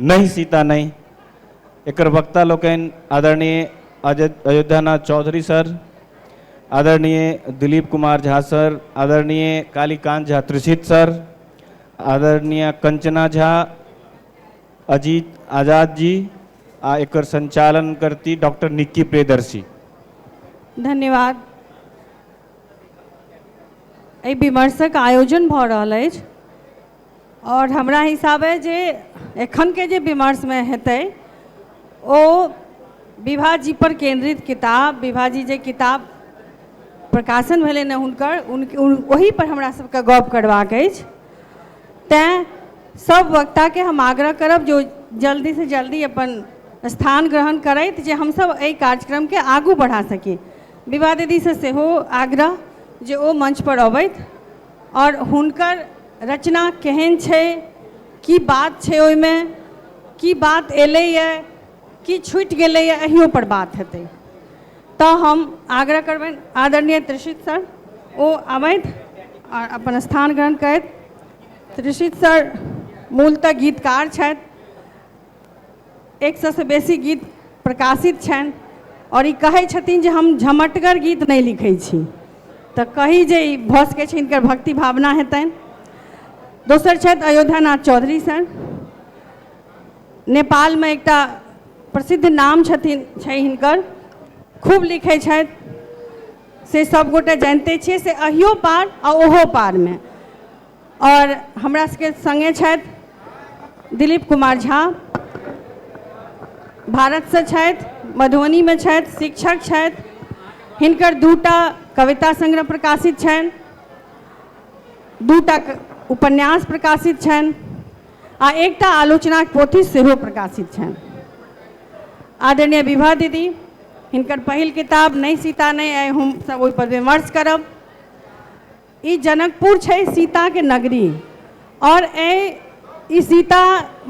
नहि सीता नहि एकर वक्ता लोकनि आदरणीय अयोध्यानाथ चौधरी सर आदरणीय दिलीप कुमार झा सर आदरणीय कालीकांत झा त्रिषित सर आदरणीय कंचना झा अजीत आजाद जी आ एकर संचालन करती डॉक्टर निक्की प्रियदर्शी धन्यवाद एहि विमर्शक आयोजन भऽ रहल अछि आओर हमरा हिसाबे जे एखनके जे विमर्शमे हेतै ओ विभा जी पर केन्द्रित किताब विभा जी जे किताब प्रकाशन भेलनि हँ हुनकर ओहि पर हमरा सबके गप करबाक अछि तैं सब वक्ताके हम आग्रह करब जे ओ जल्दी से जल्दी अपन स्थान ग्रहण करथि जे हमसब एहि कार्यक्रमके आगू बढ़ा सकी विभा दीदी से सेहो आग्रह जे ओ मंच पर अबथि आओर हुनकर रचना केहन छै की बात छै ओहिमे की बात एलैए की छुटि गेलैए अहियोपर बात हेतै तऽ हम आग्रह करबनि आदरणीय त्रिषित सर ओ अबथि आओर अपन स्थान ग्रहण करथि त्रिषित सर मूलतः गीतकार छथि एक सएसँ बेसी गीत प्रकाशित छनि आओर ई कहै छथिन जे हम झमटगर गीत नहि लिखै छी तऽ कही जे ई भऽ सकै छै हिनकर भक्ति भावना हेतनि दोसर छथि अयोध्यानाथ चौधरी सर नेपालमे एकटा प्रसिद्ध नाम छथिन छै हिनकर खूब लिखै छथि से सभगोटे जानिते छियै से अहियो पार आ ओहो पारमे आओर हमरा सबके सङ्गे छथि दिलीप कुमार झा भारतसँ छथि मधुबनीमे छथि शिक्षक छथि हिनकर दूटा कविता संग्रह प्रकाशित छनि दूटा उपन्यास प्रकाशित छनि आ एकटा आलोचनाक पोथी सेहो प्रकाशित छनि आदरणीय विभा दीदी हिनकर पहिल किताब नहि सीता नहि आइ हम सब ओहिपर विमर्श करब ई जनकपुर छै सीता के नगरी और ऐ ई सीता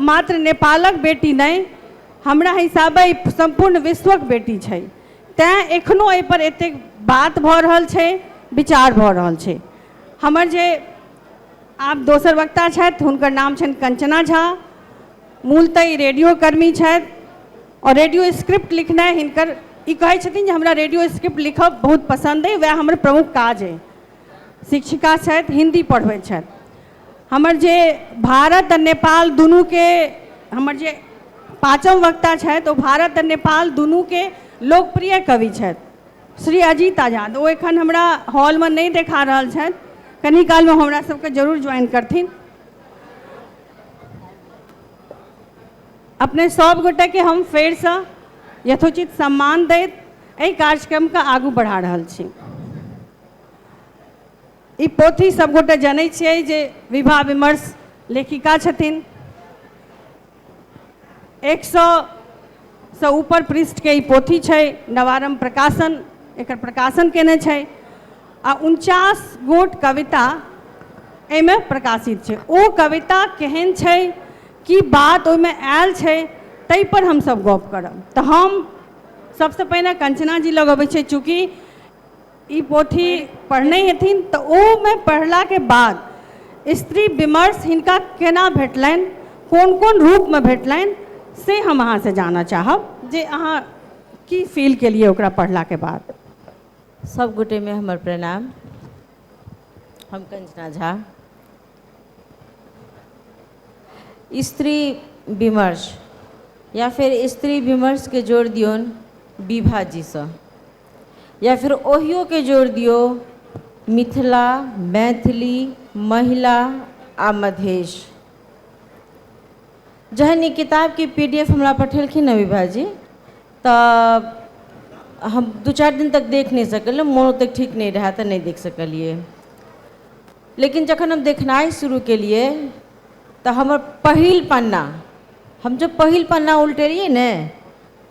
मात्र नेपालक बेटी नै हमरा हिसाबे ई सम्पूर्ण विश्वक बेटी छै। तैं एखनो ऐ पर एतेक बात भऽ रहल छै, विचार भऽ रहल छै। हमर जे आब दोसर वक्ता छैथ हुनकर नाम छैन कंचना झा। मूलतः ई रेडियो कर्मी छैथ। आओर रेडियो स्क्रिप्ट लिखनाइ हिनकर ई कहै छथिन जे हमरा रेडियो स्क्रिप्ट लिखब बहुत पसन्द अइ वएह हमर प्रमुख काज अइ शिक्षिका छथि हिन्दी पढ़बै छथि हमर जे भारत आओर नेपाल दुनूके हमर जे पाँचम वक्ता छथि ओ भारत आओर नेपाल दुनूके लोकप्रिय कवि छथि श्री अजीत आजाद ओ एखन हमरा हॉलमे नहि देखा रहल छथि कनि कालमे हमरा सबके जरूर ज्वाइन करथिन अपने सब गोटे के हम फेर से यथोचित सम्मान दैत एहि कार्यक्रम के आगू बढ़ा रहल छी ई पोथी सब गोटे जनै छियै जे विवाह विमर्श लेखिका छथिन एक सौ से ऊपर पृष्ठ के ई पोथी छै नवारम प्रकाशन एकर प्रकाशन केने छै आ उनचास गोट कविता एहिमे प्रकाशित छै ओ कविता केहन छै की बात ओहिमे आयल छै ताहि पर हमसभ गप करब तऽ हम सभसँ पहिने कंचना जी लग अबैत छै चूँकि ई पोथी पढ़ने हेथिन तऽ ओहिमे पढ़लाके बाद स्त्री विमर्श हिनका केना भेटलनि कोन कोन रूपमे भेटलनि से हम अहाँसँ जानऽ चाहब जे अहाँ की फील केलियै ओकरा पढ़लाके बाद सभ गोटेमे हमर प्रणाम हम कंचना झा स्त्री विमर्श या फेर स्त्री विमर्शके जोड़ दियौन विभाजीसँ या फेर ओहियोके जोड़ दियौ मिथिला मैथिली महिला आ मधेश जहन ई किताबके पी डी एफ हमरा पठेलखिन हँ विभाजी तऽ हम दू चारि दिन तक देख नहि सकलहुँ मोन ओतेक ठीक नहि रहए तऽ नहि देख सकलियै लेकिन जखन हम देखनाइ शुरू केलियै तऽ हमर पहिल पन्ना हम जब पहिल पन्ना उलटेलियै ने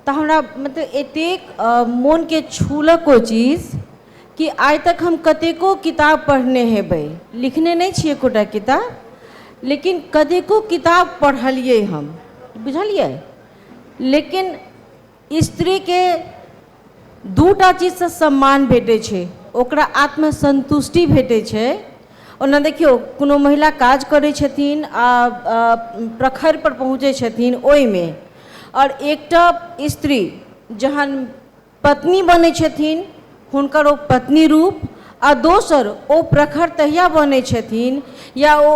तऽ हमरा मतलब एतेक मोनकेँ छूलक ओ चीज कि आइ तक हम कतेको किताब पढ़ने हेबै लिखने नहि छी एकोटा किताब लेकिन कतेको किताब पढ़लियै हम बुझलियै लेकिन स्त्रीके दू टा चीजसँ सम्मान भेटैत छै ओकरा आत्मसन्तुष्टि भेटैत छै ओना देखियौ कोनो महिला काज करैत छथिन आ प्रखरपर पहुँचैत छथिन ओहिमे आओर एकटा स्त्री जहन पत्नी बनैत छथिन हुनकर ओ पत्नी रूप आ दोसर ओ प्रखर तहिया बनैत छथिन या ओ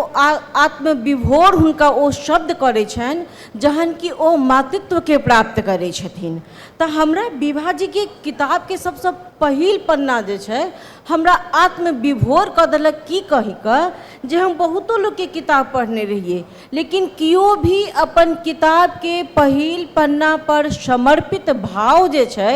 आत्मविभोर हुनका ओ शब्द करैत छनि जहन कि ओ मातृत्वके प्राप्त करैत छथिन तऽ हमरा विभाजीके किताबके सभसँ पहिल पन्ना जे छै हमरा आत्मविभोर कऽ देलक की कहि कऽ जे हम बहुतो लोकके किताब पढ़ने रहियै लेकिन केओ भी अपन किताबके पहिल पन्नापर समर्पित भाव जे छै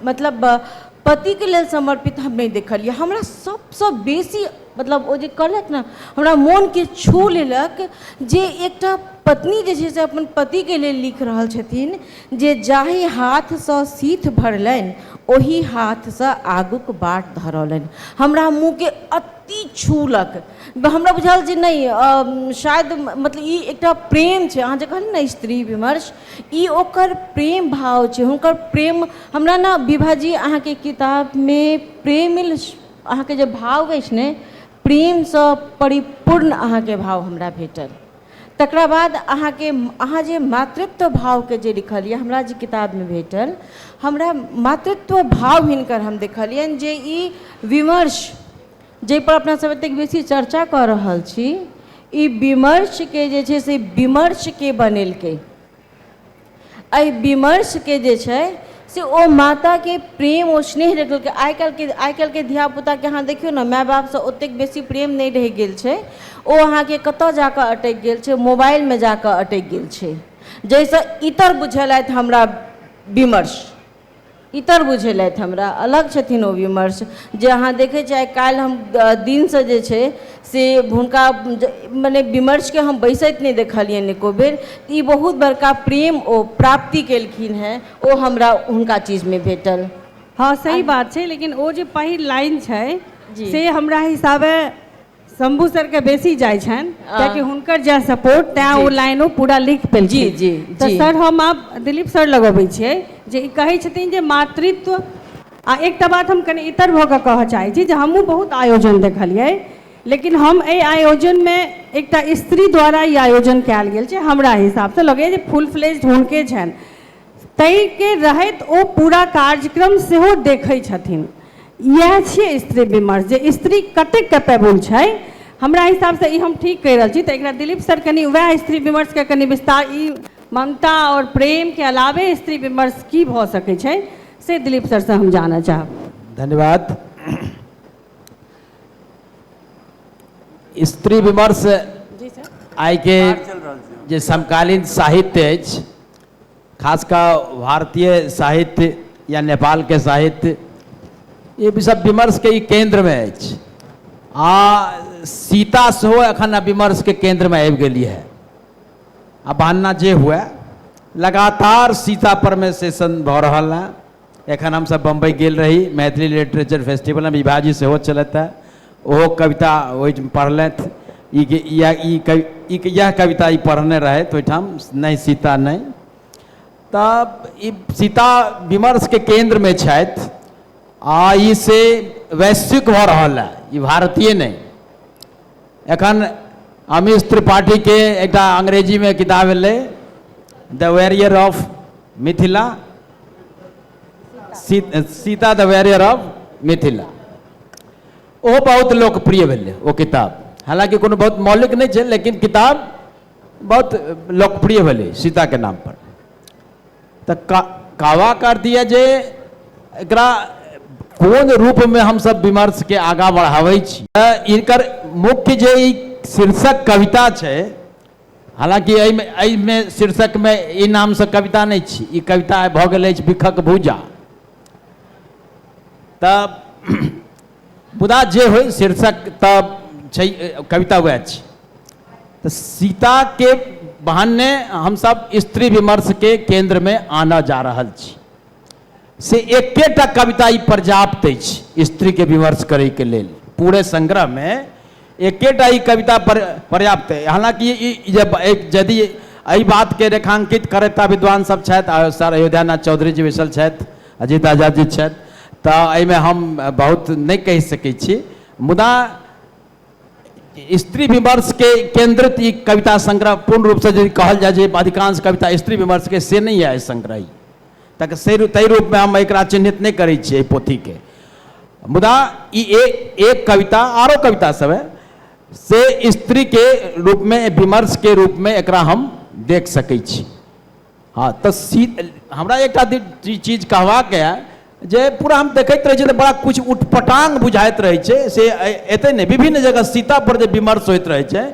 मतलब पतिके लेल समर्पित हम नहि देखलिए हमरा सबसँ बेसी मतलब ओ जे कहलथि ने हमरा मोनके छू लेलक जे एकटा पत्नी जे छै से अपन पतिके लेल लिखि रहल छथिन जे जाहि हाथसँ सीथ भरलनि ओहि हाथसँ आगूके बाट धरौलनि हमरा मोनके अति छूलक हमरा बुझाएल जे नहि शायद मतलब ई एकटा प्रेम छै अहाँ जे कहलहुँ ने स्त्री विमर्श ई ओकर प्रेम भाव छै हुनकर प्रेम हमरा ने विभा जी अहाँके किताबमे प्रेम अहाँके जे भाव अछि ने प्रेमसँ परिपूर्ण अहाँके भाव हमरा भेटल तकरा बाद अहाँके अहाँ जे मातृत्व भावके जे लिखलिए हमरा जे किताबमे भेटल हमरा मातृत्व भाव हिनकर हम देखलिअनि जे ई विमर्श जाहिपर अपना सभ एतेक बेसी चर्चा कऽ रहल छी ई विमर्शके जे छै से विमर्शके बनेलकै एहि विमर्शके जे छै से ओ माताके प्रेम ओ स्नेह रखलकै आइ काल्हिके आइ काल्हिके धियापुताके अहाँ देखियौ ने माय बापसँ ओतेक बेसी प्रेम नहि रहि गेल छै ओ अहाँके कतय जा कऽ अटकि गेल छै मोबाइलमे जा कऽ अटकि गेल छै जाहिसँ इतर बुझेलथि हमरा विमर्श इतर बुझेलथि हमरा अलग छथिन ओ विमर्श जे अहाँ देखै छियै आइ काल्हि हम दिनसँ जे छै से हुनका मने विमर्शके हम बैसैत नहि देखलियनि एको बेर तऽ ई बहुत बड़का प्रेम ओ प्राप्ति केलखिन हेँ ओ हमरा हुनका चीजमे भेटल हँ सही बात छै लेकिन ओ जे पहिल लाइन छै से हमरा हिसाबे शंभू सर के बेसी जाइ छनि कियाकि हुनकर जै सपोर्ट तैं ओ लाइन ओ पूरा लिख पेलखिन जी जी तऽ जी सर हम आब दिलीप सर लग अबै छियै जे ई कहै छथिन जे मातृत्व आ एकटा बात हम कनि इतर भऽ कऽ कहऽ चाहै छी जे हमहूँ बहुत आयोजन देखलियै लेकिन हम एहि आयोजनमे एकटा स्त्री द्वारा ई आयोजन कयल गेल छै हमरा हिसाबसँ लगैए जे फुल फ्लेज हुनके छनि तैं के रहैत ओ पूरा कार्यक्रम सेहो देखै छथिन इएह छियै स्त्री विमर्श जे स्त्री कते कैपेबल छै हमरा हिसाबसँ ई हम ठीक कहि रहल छी तऽ एकरा दिलीप सर कनि उएह स्त्री विमर्शके कनि विस्तार ई ममता आओर प्रेमके अलावे स्त्री विमर्श की भऽ सकै छै से दिलीप सरसँ हम जानऽ चाहब धन्यवाद स्त्री विमर्श आइके जे समकालीन साहित्य अछि खास कऽ भारतीय साहित्य या नेपालके साहित्य ई विषय विमर्शके ई केन्द्रमे अछि आ सीता सेहो एखन विमर्शके केन्द्रमे आबि गेली है आ बहाना जे हुए लगातार सीता परमे सेशन भऽ रहल हँ एखन हमसभ बम्बइ गेल रही मैथिली लिटरेचर फेस्टिवलमे विभाजी सेहो छलथि हँ ओहो कविता ओहिठाम पढ़लथि ई कि इएह ई कवि ई कि इएह कविता ई पढ़ने रहथि ओहिठाम नहि सीता नहि तऽ ई सीता विमर्शके केन्द्रमे छथि आ ई से वैश्विक भऽ रहल हँ ई भारतीय नहि एखन अमीश त्रिपाठीके एकटा अंग्रेजीमे किताब एलै the warrior of Mithila Sita the warrior of Mithila ओहो बहुत लोकप्रिय भेलै ओ किताब हालांकि कोनो बहुत मौलिक नहीं है लेकिन किताब बहुत लोकप्रिय भेलै सीताके नामपर तऽ का कावा का अर्थ यए जे एकरा कोन रूपमे हमसभ विमर्शके आगाँ बढ़ाबै छी तऽ इनकर मुख्य जे ई शीर्षक कविता छै हालांकि एहिमे एहिमे शीर्षकमे ई नामसँ कविता नहि छी ई कविता भऽ गेल अछि भिखक भूजा तऽ मुदा जे होइ शीर्षक तऽ छै कविता वएह छी तऽ सीताके बहाने हमसभ स्त्री विमर्शके केन्द्रमे आनऽ जा रहल छी से एकेटा कविता ई पर्याप्त अछि स्त्रीके विमर्श करैके लेल पूरे संग्रहमे एकेटा ई कविता पर पर्याप्त अइ हालाँकि ई जे यदि एहि बातके रेखांकित करैता विद्वान सब छथि सर अयोध्यानाथ चौधरी जी बैसल छथि अजीत आजाद जी छथि तऽ एहिमे हम बहुत नहि कहि सकैत छी मुदा स्त्री विमर्शके केन्द्रित ई कविता संग्रह पूर्ण रूपसँ यदि कहल जाय जे अधिकांश कविता स्त्री विमर्शके से नहि यऽ ई संग्रह ई तक से ताहि रूपमे हम एकरा चिन्हित नहि करै छियै एहि पोथीके मुदा ई एक कविता आरो कविता सब है से स्त्रीके रूपमे विमर्शके रूपमे एकरा हम देख सकै छी हँ तऽ सी हमरा एकटा चीज कहबाक यऽ जे पूरा हम देखैत रहै छी तऽ बड़ा किछु उटपटांग बुझाइत रहै छै से एतै नहि विभिन्न जगह सीता पर जे विमर्श होइत रहै छै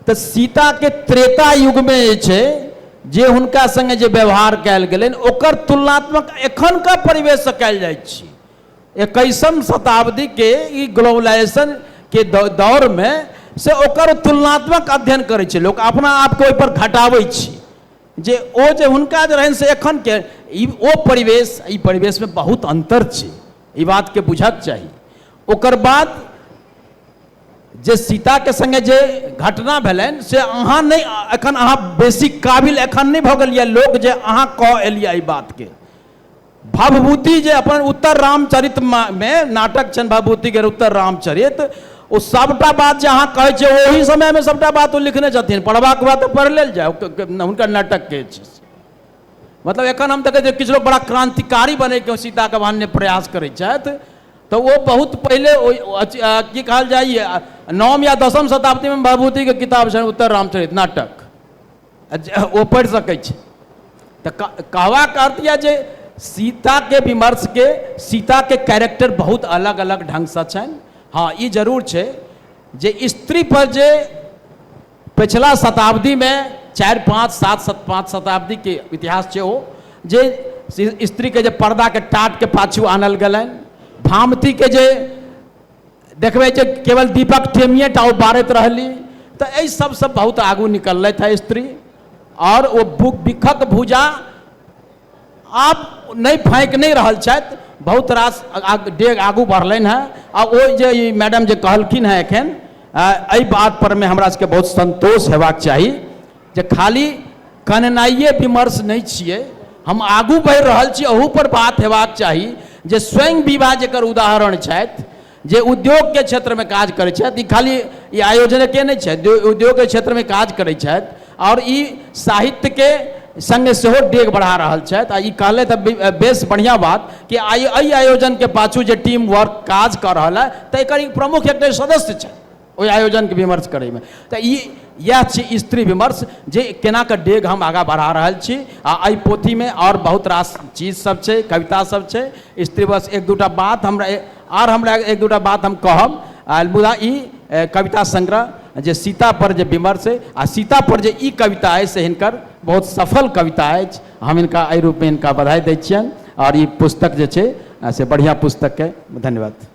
तऽ सीताके त्रेता युगमे जे छै जे हुनका सङ्गे जे व्यवहार कयल गेलनि ओकर तुलनात्मक एखनका परिवेशसँ कयल जाइत छी एकैसम शताब्दीके ई ग्लोबलाइजेशनके दौरमे से ओकर तुलनात्मक अध्ययन करै छै लोक अपना आपके ओहिपर घटाबै छी जे ओ जे हुनका जे रहनि से एखनके ई ओ परिवेश ई परिवेशमे बहुत अन्तर छै ई बातके बुझक चाही ओकर बाद जे सीताके सङ्गे जे घटना भेलनि से अहाँ नहि एखन अहाँ बेसी काबिल एखन नहि भऽ गेलियै लोक जे अहाँ कह एलियै एहि बातके भवभूति जे अपन उत्तर रामचरितमे नाटक छनि भवभूतिके उत्तर रामचरित ओ सभटा बात जे अहाँ कहै छियै ओहि समयमे सभटा बात ओ लिखने छथिन पढ़बाक बाद तऽ पढ़ि लेल जाय हुनकर नाटकके मतलब एखन हम देखै छियै किछु लोक बड़ा क्रान्तिकारी बनैके सीताके मान्य प्रयास करै छथि तऽ ओ बहुत पहिले ओहि अथी, आ, की कहल जाइए आ, नवम या दसम शताब्दीमे भभूतिके किताब छनि उत्तर रामचरित नाटक आ जे- ओ पढ़ि सकै छी तऽ क- कहबाक अर्थ यह जे सीताके विमर्शके सीताके कैरेक्टर बहुत अलग अलग ढङ्गसँ छनि हँ ई जरूर छै जे स्त्री पर जे पछिला शताब्दीमे चारि पाँच सात सत पाँच शताब्दीके इतिहास छै ओ जे स्त्रीके जे पर्दाके टाटके पाछू आनल गेलनि भामतीके जे देखबै जे केवल दीपक टेमिए टा ओ बारैत रहली तऽ एहि सभसँ बहुत आगू निकललथि हे स्त्री आओर ओ भु बिखक भुजा आब नहि फाँकि नहि रहल छथि बहुत रास डेग आगू बढ़लनि हँ आ ओ जे ई मैडम जे कहलखिन हँ एखन एहि बात परमे हमरा सबके बहुत सन्तोष हेबाक चाही जे खाली कननाइए विमर्श नहि छियै हम आगू बढ़ि रहल छी अहू पर बात हेबाक चाही जे स्वयं विभा जेकर उदाहरण छथि जे उद्योगके क्षेत्रमे काज करै छथि ई खाली ई आयोजनके नहि छथि जे उद्योगके क्षेत्रमे काज करै छथि आओर ई साहित्यके सङ्गे सेहो डेग बढ़ा रहल छथि आ ई कहले तऽ बे- बेस बढ़िआँ बात कि आइ एहि आयोजनके पाछू जे टीम वर्क काज कऽ रहल है तऽ एकर ई प्रमुख एकटा सदस्य छथि ओहि आयोजनके विमर्श करैमे तऽ ई इएह छी स्त्री विमर्श जे केनाके डेग हम आगाँ बढ़ा रहल छी आ एहि पोथीमे आओर बहुत रास चीज सब छै कविता सब छै स्त्री बस एक दूटा बात हमरा आर हमरा एक दूटा बात हम कहब आ मुदा ई कविता संग्रह जे सीता पर जे विमर्श अइ आ सीता पर जे ई कविता अइ से हिनकर बहुत सफल कविता अछि हम हिनका एहि रूपमे हिनका बधाइ दै छियनि आओर ई पुस्तक जे छै से बढ़िआँ पुस्तकके धन्यवाद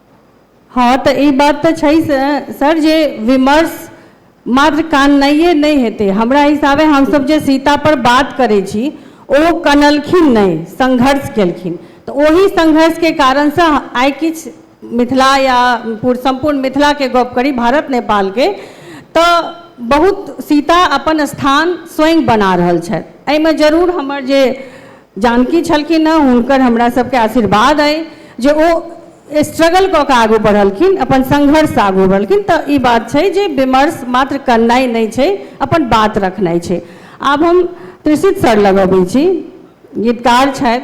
हँ तऽ ई बात तऽ छै सर जे विमर्श मात्र काननाइए नहि हेतै हमरा हिसाबे हमसभ जे सीतापर बात करै छी ओ कनलखिन नहि संघर्ष केलखिन तऽ ओही संघर्षके कारणसँ आइ किछु मिथिला या सम्पूर्ण मिथिलाके गप करी भारत नेपालके तऽ बहुत सीता अपन स्थान स्वयं बना रहल छथि एहिमे जरूर हमर जे जानकी छलखिन हँ हुनकर हमरा सबके आशीर्वाद अइ जे ओ स्ट्रगल कऽ कऽ आगू बढ़लखिन अपन संघर्ष आगू बढ़लखिन तऽ ई बात छै जे विमर्श मात्र करनाइ नहि छै अपन बात रखनाइ छै आब हम त्रिषित सर लग अबै छी गीतकार छथि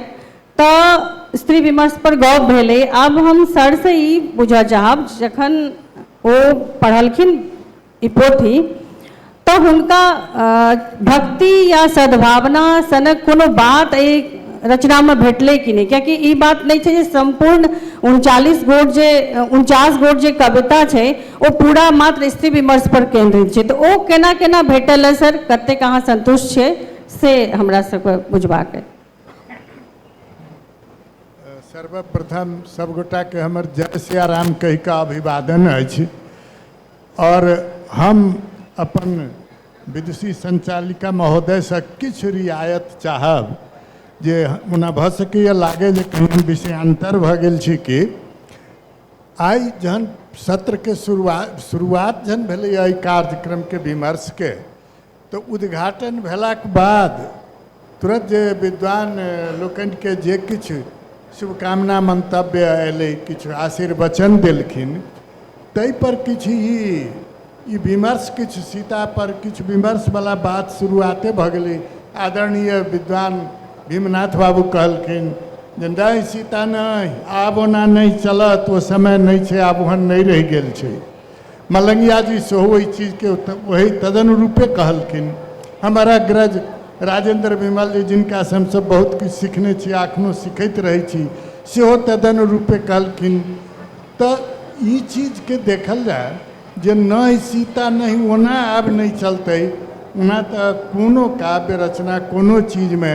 तऽ स्त्री विमर्श पर गप भेलै आब हम सरसँ ई बुझऽ चाहब जखन ओ पढ़लखिन ई पोथी तँ हुनका भक्ति या सद्भावना सनक कोनो बात एहि रचनामे भेटलै कि नहि किएकि ई बात नहि छै जे सम्पूर्ण उनचालिस गोट जे उनचास गोट जे कविता छै ओ पूरा मात्र स्त्री विमर्शपर केन्द्रित छै तऽ ओ केना केना भेटल अइ सर कतेक अहाँ सन्तुष्ट छियै से हमरा सभके बुझबाक अइ सर्वप्रथम सभगोटाके हमर जय सियाराम कहि कऽ अभिवादन अछि आओर हम अपन विदुषी संचालिका महोदयसँ किछु रियायत चाहब जे ओना भऽ सकैए लागै जे कहीँ हम विषयान्तर भऽ गेल छी कि आइ जहन सत्रके शुरुआत शुरुआत जहन भेलैए एहि कार्यक्रमके विमर्शके तऽ उद्घाटन भेलाक बाद तुरत जे विद्वान लोकनिके जे किछु शुभकामना मन्तव्य अयलै किछु आशीर्वचन देलखिन ताहिपर किछु ई ई विमर्श किछु सीतापर किछु विमर्शवला बात शुरुआते भऽ गेलै आदरणीय विद्वान भीमनाथ बाबू कहलखिन जे नहि सीता नहि आब ओना नहि चलत ओ समय नहि छै आब ओहन नहि रहि गेल छै मलंगिया जी सेहो ओहि चीजके ओहि तदनुरूपे कहलखिन हमर अग्रज राजेंद्र विमल जी जिनका से हमसब बहुत किछु सीखने छी आ एखनो सीखैत रहै छी सेहो तदनुरूपे कहलखिन तऽ ई चीजके देखल जाय जे नहि सीता नहि ओना आब नहि चलतै ओना तऽ कोनो काव्य रचना कोनो चीजमे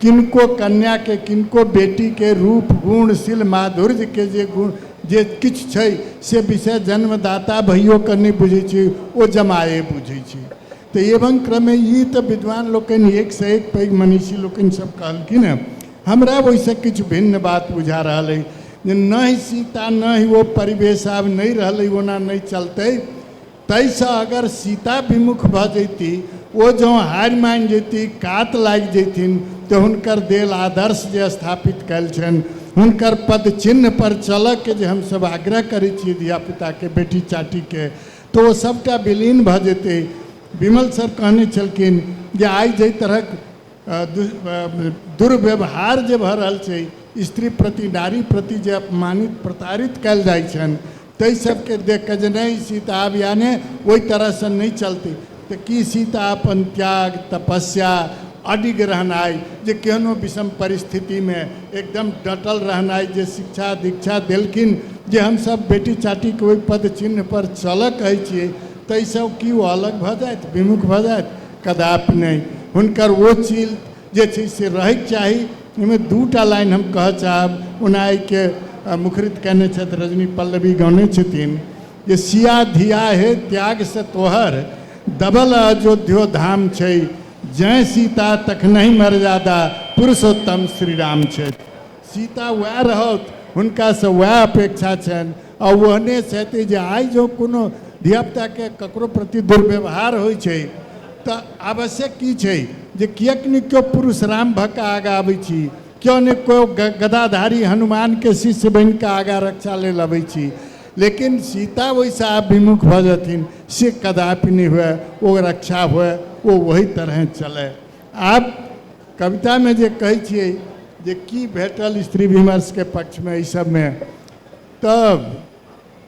किनको कन्याके किनको बेटीके रूप गुण शील माधुर्यके जे गुण जे किछु छै से विषय जन्मदाता भइयोके नहि बुझै छै ओ जमाए बुझै छै तऽ एवं क्रमे ई तऽ विद्वान लोकनि एकसँ एक पैघ मनीषी लोकनि सब कहलखिन हँ हमरा ओहिसँ किछु भिन्न बात बुझा रहल अइ जे नहि सीता नहि ओ परिवेश आब नहि रहलै ओना नहि चलतै ताहि सँ अगर सीता विमुख भऽ जैती, ओ जँ हारि मानि जैती, कात लागि जैथिन तँ हुनकर देल आदर्श जे स्थापित कयल छनि, हुनकर पदचिह्न पर चलऽ के जे हम सभ आग्रह करै छियै धिया-पुता के, बेटी-चाटी के, तँ ओ सभटा विलीन भऽ जैतै। विमल सर कहने छलखिन जे आइ जइ तरहक दुर्व्यवहार जे भऽ रहल छै, स्त्री प्रति, नारी प्रति जे अपमानित, प्रताड़ित कयल जाइ छनि, ताहि सबके देख कऽ जे नहि ई सीता आब याने ओहि तरहसँ नहि चलती तऽ की सीता अपन त्याग तपस्या अडिग रहनाइ जे केहनो विषम परिस्थितिमे एकदम डटल रहनाइ जे शिक्षा दीक्षा देलखिन जे हमसभ बेटी चाटीके ओहि पद चिन्हपर चलऽ कहै छियै ताहिसँ की ओ अलग भऽ जाथि विमुख भऽ जाथि कदापि नहि हुनकर ओ चील जे छै से रहैके चाही ओहिमे दूटा लाइन हम कहऽ चाहब ओना एहिके मुखरित कयने छथि रजनी पल्लवी गौने छथिन जे सिया धिया हे त्यागसँ तोहर दबल अयोध्यो धाम छै जय सीता तखनहि मर्यादा पुरुषोत्तम श्री राम छथि सीता वएह रहत हुनकासँ वएह अपेक्षा छनि आ ओहने छथि जे आइ जँ कोनो धियापुताके ककरो प्रति दुर्व्यवहार होइ छै तऽ आवश्यक की छै जे किएक नहि केओ पुरुष राम भऽ कऽ आगाँ अबै छी केओ नहि केओ गदाधारी हनुमानके शिष्य बनि कऽ आगाँ रक्षा लेल अबै छी लेकिन सीता ओहिसँ आब विमुख भऽ जेथिन से कदापि नहि हुए ओ रक्षा हुए ओ ओहि तरहे चलै आब कवितामे जे कहै छियै जे की भेटल स्त्री विमर्शके पक्षमे एहि सभमे तब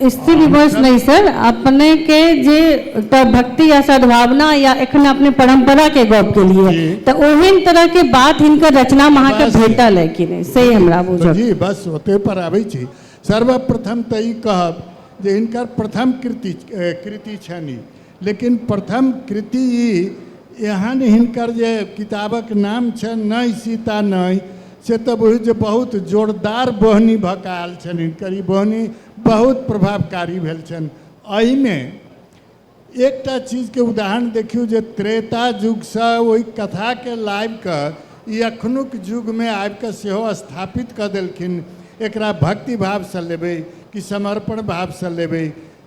स्त्री विमर्श नहीं सर अपने के जे एकटा भक्ति या सद्भावना या एखन अपने परंपरा के गप के लिए जी। तो ओहन तरह के बात हिनकर रचना में अहाँके बस। भेटल है कि नहीं से हमरा तो बुझल जी बस ओते पर आबै छी सर्वप्रथम तऽ ई कहब जे हिनकर प्रथम कृति ए, कृति छनि ई लेकिन प्रथम कृति ई एहन हिनकर जे किताबक नाम छनि नहि सीता नहि से तऽ बुझू जे बहुत जोरदार बोहनी भऽ कऽ आयल छनि हिनकर ई बोहनी बहुत प्रभावकारी भेल छनि एहिमे एकटा चीजके उदाहरण देखियौ जे त्रेता युगसँ ओहि कथाके लाबि कऽ ई अखनुक युगमे आबि कऽ सेहो स्थापित कऽ देलखिन एकरा भक्ति भावसँ लेबै कि समर्पण भावसँ लेबै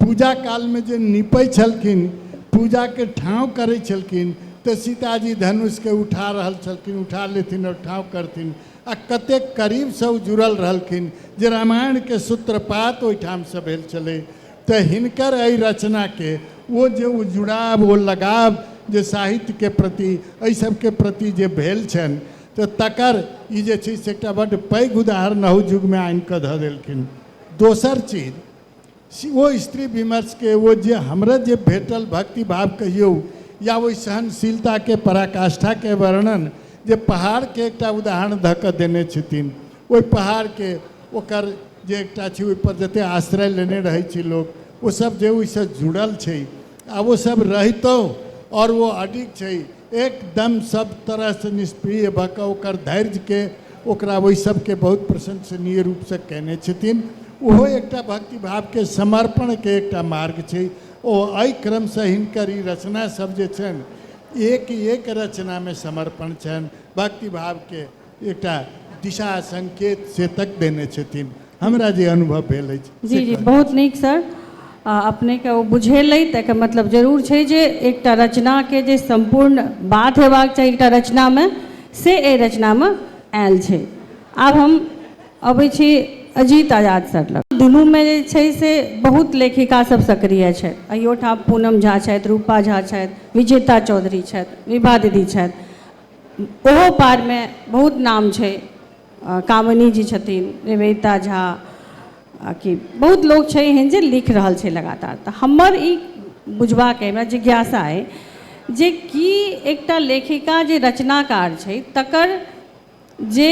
पूजा कालमे जे निपै छलखिन पूजाके ठाँव करै छलखिन तऽ सीताजी धनुषके उठा रहल छलखिन उठा लेथिन आओर ठाँव करथिन आ कतेक करीबसँ ओ जुड़ल रहलखिन जे रामायणके सूत्रपात ओहिठामसँ भेल छलै तऽ हिनकर एहि रचनाके ओ जे ओ जुड़ाव ओ लगाव जे साहित्यके प्रति एहि सबके प्रति जे भेल छनि तऽ तकर ई जे छै से एकटा बड्ड पैघ उदाहरण अहू युगमे आनि कऽ धऽ देलखिन दोसर चीज से ओ स्त्री विमर्शके ओ जे हमरा जे भेटल भक्तिभाव कहियौ या ओहि सहनशीलताके पराकाष्ठाके वर्णन जे पहाड़के एकटा उदाहरण धऽ कऽ देने छथिन ओहि पहाड़के ओकर जे एकटा छै ओहिपर जतेक आश्रय लेने रहै छै लोक ओसभ जे ओहिसँ जुड़ल छै आ ओसभ रहितो आओर ओ अडिग छै एकदम सब तरह से निष्प्रिय भऽ कऽ ओकर धैर्य के ओकरा ओहि सबके बहुत प्रशंसनीय रूप से कयने छथिन ओहो एकटा भक्ति भाव के समर्पण के एकटा मार्ग छै ओ एहि क्रम से हिनकर ई रचना सब जे छनि एक एक रचना में समर्पण छनि भक्ति भाव के एकटा दिशा संकेत से तक देने छथिन हमरा जे अनुभव भेल अछि जी जी बहुत नीक सर आ अपनेके ओ बुझेलै तऽ एकर मतलब जरूर छै जे एकटा रचनाके जे सम्पूर्ण बात हेबाक चाही एकटा रचनामे से एहि रचनामे आयल छै आब हम अबै छी अजीत आजाद सर लग दुनूमे जे छै से बहुत लेखिका सब सक्रिय छथि अहियोठाम पूनम झा छथि रूपा झा छथि विजेता चौधरी छथि विभा दीदी छथि ओहो पारमे बहुत नाम छै कामिनी जी छथिन निवेदिता झा आ कि बहुत लोक छै एहन जे लिख रहल छै लगातार तऽ हमर ई बुझबाक अइ हमरा जिज्ञासा अइ जे की एकटा लेखिका जे रचनाकार छै तकर जे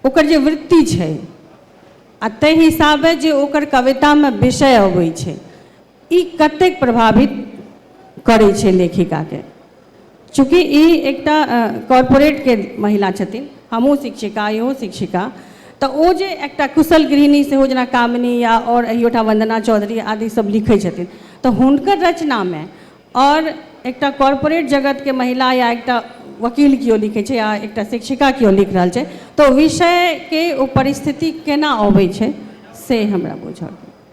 ओकर जे वृत्ति छै आ ताहि हिसाबे जे ओकर कवितामे विषय अबै छै ई कतेक प्रभावित करै छै लेखिकाके चूँकि ई एकटा कॉरपोरेटके महिला छथिन हमहूँ शिक्षिका इहो शिक्षिका तऽ ओ जे एकटा कुशल गृहिणी सेहो जेना कामिनी या आओर एहियोठा वन्दना चौधरी आदि सब लिखै छथिन तऽ हुनकर रचनामे आओर एकटा कॉरपोरेट जगतके महिला या एकटा वकील केओ लिखै छै या एकटा शिक्षिका केओ लिख रहल छै तऽ विषयके ओ परिस्थिति केना अबै छै से हमरा बुझऽ के अइ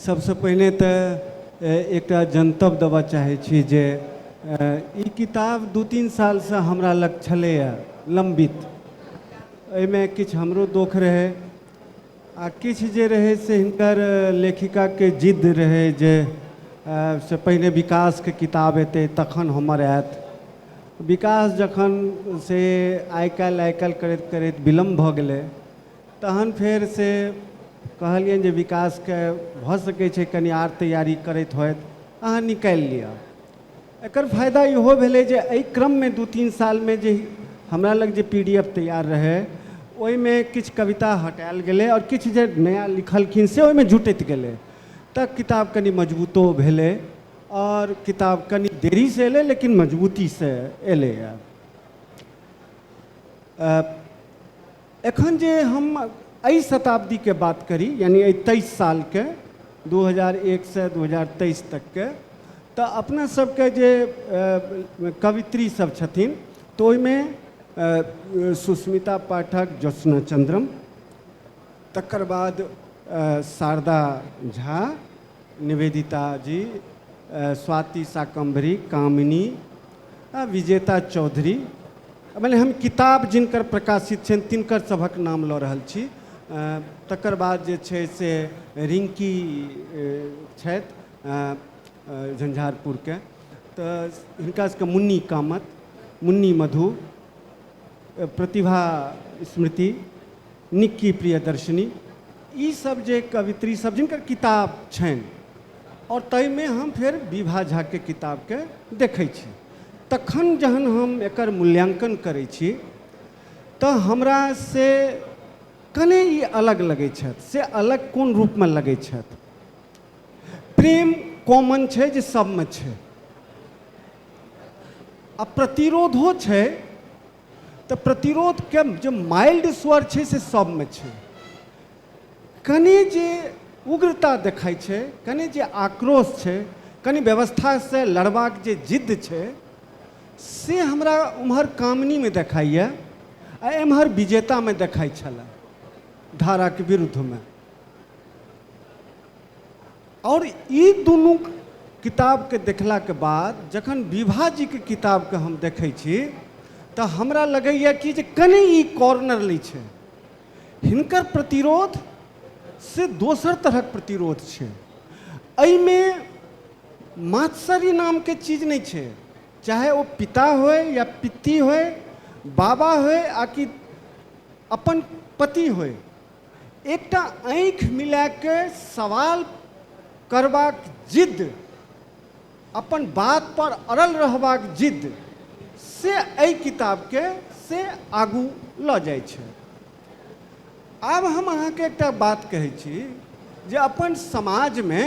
सबसँ पहिने तऽ एकटा जनतब देबऽ चाहै छी जे ई किताब दू तीन सालसँ हमरा लग छलैए लम्बित एहिमे किछु हमरो दोख रहै आ किछु जे रहै से हिनकर लेखिकाके जिद्द रहै जे से पहिने विकासके किताब एतै तखन हमर आयत विकास जखन से आइ काल्हि आइ काल्हि करैत करैत विलम्ब भऽ गेलै तहन फेर से कहलियनि जे विकासके भऽ सकै छै कनि आर तैयारी करैत होथि अहाँ निकालि लिअ एकर फायदा इहो भेलै जे एहि क्रममे दू तीन सालमे जे हमरा लग जे पी डी एफ तैयार रहै ओहिमे किछु कविता हटायल गेलै आओर किछु जे नया लिखलखिन से ओहिमे जुटैत गेलै तऽ किताब कनि मजबूतो भेलै आओर किताब कनि देरीसँ एलै लेकिन मजबूतीसँ एलैए एखन जे हम एहि शताब्दीके बात करी यानि एहि तेइस सालके दू हजार एकसँ दू हजार तेइस तकके तऽ अपना सबके जे कवित्री सब छथिन तऽ ओहिमे सुस्मिता पाठक ज्योत्सना चन्द्रम तकर बाद शारदा झा निवेदिता जी, स्वाति शाकम्भरी, कामिनी आ विजेता चौधरी मने हम किताब जिनकर प्रकाशित छनि तिनकर सभक नाम लऽ रहल छी तकर बाद जे छै से रिंकी छथि झंझारपुरके तऽ हिनका सबके मुन्नी कामत मुन्नी मधु प्रतिभा स्मृति निक्की प्रियदर्शिनी ई सब जे कवित्री सब जिनकर किताब छनि आओर ताहिमे हम फेर विभा झाके किताबके देखै छी तखन जहन हम एकर मूल्याङ्कन करै छी तऽ हमरा से कने ई अलग लगै छथि से अलग कोन रूपमे लगै छथि प्रेम कॉमन छै जे सबमे छै आ प्रतिरोधो छै तऽ प्रतिरोधके जे माइल्ड स्वर छै से सबमे छै कनि जे उग्रता देखाइ छै कनि जे आक्रोश छै कनि व्यवस्थासँ लड़बाक जे जिद्द छै से हमरा उम्हर कामनीमे देखाइए आ एम्हर विजेतामे देखाइ छलए धाराके विरुद्धमे आओर ई दुनू किताबके देखलाके बाद जखन विभा जीके किताबके हम देखै छी तऽ हमरा लगैए कि जे कनि ई कॉर्नर लै छै हिनकर प्रतिरोध से दोसर तरहक प्रतिरोध छै एहिमे मात्सरी नामके चीज नहि छै चाहे ओ पिता होय या पित्ती होय बाबा होय आ कि अपन पति होय एकटा आँखि मिला कऽ सवाल करबाक जिद्द, अपन बातपर अड़ल रहबाक जिद्द से एहि किताबकेँ से आगू लऽ जाइत छै। आब हम अहाँकेँ एकटा बात कहैत छी जे अपन समाजमे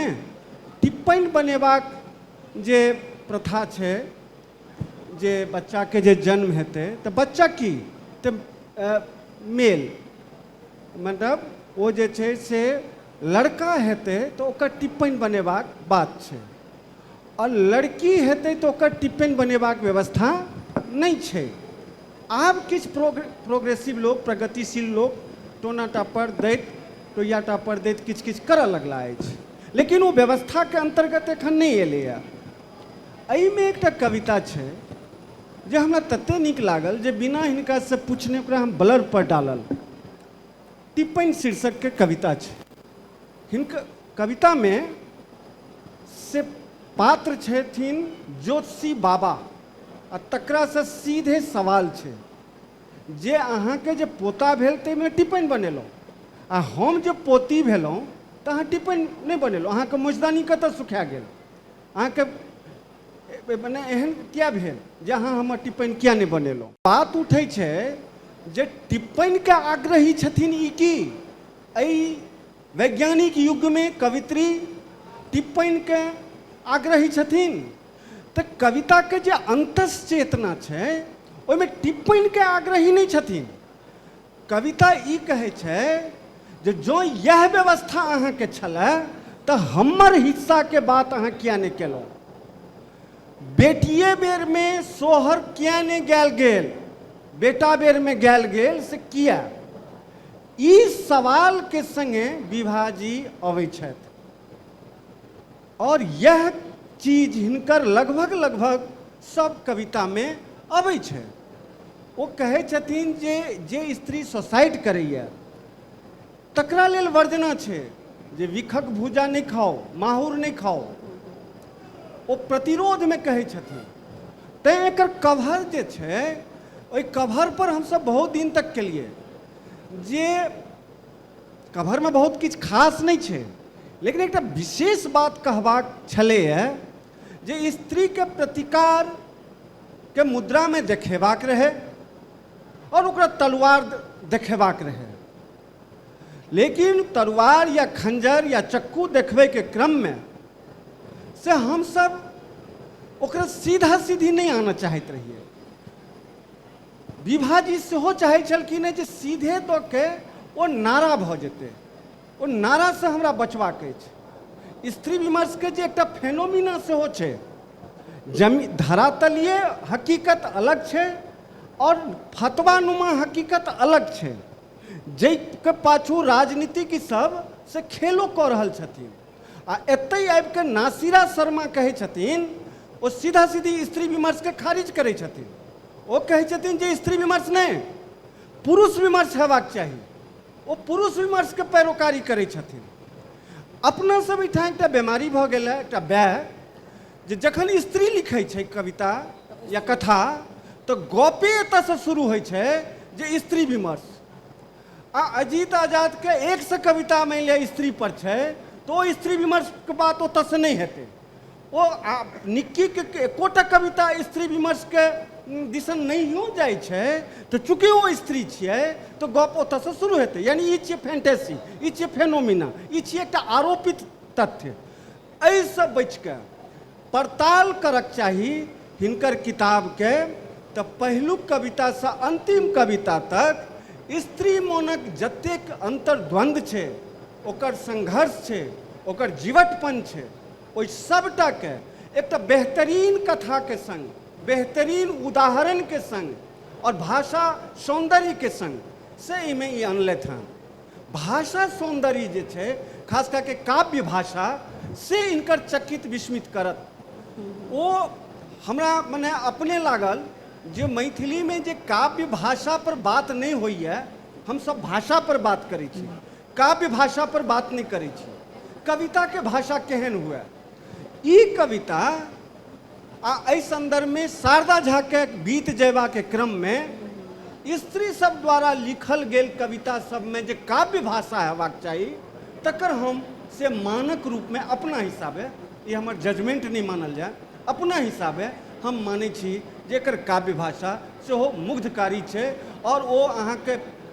टिप्पणि बनेबाक जे प्रथा छै, जे बच्चाके जे जन्म हेतै तऽ बच्चा की तऽ मेल मतलब ओ जे छै से लड़का हेतै तऽ ओकर टिप्पण बनेबाक बात छै आओर लड़की हेतै तऽ ओकर टिप्पण बनेबाक व्यवस्था नहि छै आब किछु प्रोग प्रोग्रेसिव लोक प्रगतिशील लोक टोना टापर दैत टोया टापर दैत किछु किछु करऽ लगला अछि लेकिन ओ व्यवस्थाके अन्तर्गत एखन नहि एलैए एहिमे एकटा कविता छै जे हमरा तते नीक लागल जे बिना हिनका से पूछने ओकरा हम ब्लर पर डालल टिप्पण शीर्षक के कविता छै हिनक कविता में से पात्र छथिन ज्योतिषी बाबा आ तकरा से सीधे सवाल छै जे अहाँ के जे पोता भेल ते में टिप्पण बनेलहुँ आ हम जे पोती भेलहुँ तऽ अहाँ टिप्पण नहि बनेलहुँ अहाँके मोचदानी कतऽ सुखा गेल अहाँके मने एहन किया भेल जे अहाँ हमर टिप्पणी किया नहि बनेलहुँ बात उठै छै जे टिप्पणीके आग्रही छथिन ई की एहि वैज्ञानिक युगमे कवित्री टिप्पणीके आग्रही छथिन तऽ कविताके जे अन्तस चेतना छै ओहिमे टिप्पणीके आग्रही नहि छथिन कविता ई कहै छै जे जँ इएह व्यवस्था अहाँके छलए तऽ हमर हिस्साके बात अहाँ किया नहि केलहुँ बेटिए बेरमे सोहर किया नहि गायल गेल बेटा बेरमे गायल गेल से किया ई सवालके सङ्गे विभाजी अबै छथि और यह चीज हिनकर लगभग लगभग सब कविता में अबै छै ओ कहै छथिन जे जे स्त्री सोसाइट करैए तकरा लेल वर्जना छै जे विखक भूजा नहि खाओ माहुर नहि खाओ ओ प्रतिरोधमे कहै छथिन तैँ एकर कवर जे छै ओहि कवरपर हमसभ बहुत दिन तक केलियै जे कभरमे बहुत किछु खास नहि छै लेकिन एकटा विशेष बात कहबाक छलैए जे स्त्रीके प्रतिकारके मुद्रामे देखेबाक रहै आओर ओकरा तलवार देखेबाक रहै लेकिन तलवार या खंजर या चक्कू देखबैके क्रममे से हमसभ ओकरा सीधा सीधी नहि आनऽ चाहैत रहियै विभाजी सेहो चाहै छलखिन हेँ जे सीधे दऽ के ओ नारा भऽ जेतै ओ नारासँ हमरा बचबाक अछि स्त्री विमर्शके जे एकटा फेनोमिना सेहो छै जमी धरातलीय हकीकत अलग छै आओर फतवानुमा हकीकत अलग छै जाहिके पाछू राजनीतिक सब से खेलो कऽ रहल छथिन आ एतहि आबि कऽ नासिरा शर्मा कहै छथिन ओ सीधा सीधी स्त्री विमर्शके खारिज करै छथिन ओ कहै छथिन जे स्त्री विमर्श नहि पुरुष विमर्श हेबाक चाही ओ पुरुष विमर्शके पैरोकारी करै छथिन अपना सब एहिठाम एकटा बीमारी भऽ गेल है एकटा वैह जे जखन स्त्री लिखै छै कविता या कथा तऽ गपे एतऽसँ शुरू होइ छै जे स्त्री विमर्श आ अजीत आजादके एकसँ कविता मानि लिअ स्त्री पर छै तऽ ओ स्त्री विमर्शके बात ओतऽसँ नहि हेतै ओ आ निक्कीके एकोटा कविता स्त्री विमर्शके दिसन नहियो जाइ छै तऽ चूँकि ओ स्त्री छियै तऽ गप ओतऽसँ शुरू हेतै यानी ई छियै फैंटेसी ई छियै फेनोमिना ई छियै एकटा आरोपित तथ्य एहिसँ बचिके पड़ताल करक चाही हिनकर किताबके तऽ पहिलुक कवितासँ अन्तिम कविता तक स्त्री मोनक जतेक अन्तर्द्वन्द्व छै ओकर संघर्ष छै ओकर जीवटपन छै ओहि सभटा के एकटा बेहतरीन कथा के संग, बेहतरीन उदाहरण के संग और भाषा सौंदर्य के संग से एहि में ई अनलथि हँ। भाषा सौंदर्य जे छै, खास कए के काव्य भाषा, से इनकर चकित विस्मित करत। ओ हमरा मने अपने लागल जे मैथिली में जे काव्य भाषा पर बात नहि होइए, हम सभ भाषा पर बात करै छी। काव्य भाषा पर बात नहि करै छी कविता के भाषा केहन हुए ई कविता आ एहि संदर्भ में शारदा झा के बीत जयबा के क्रम में स्त्री सब द्वारा लिखल गेल कविता सब में जे काव्य भाषा हेबाक चाही तकर हम से मानक रूप में अपना हिसाबे ई हमर जजमेंट नहि मानल जाय अपना हिसाबे हम मानै छी जे एकर काव्य भाषा सेहो मुग्धकारी छै आओर ओ अहाँके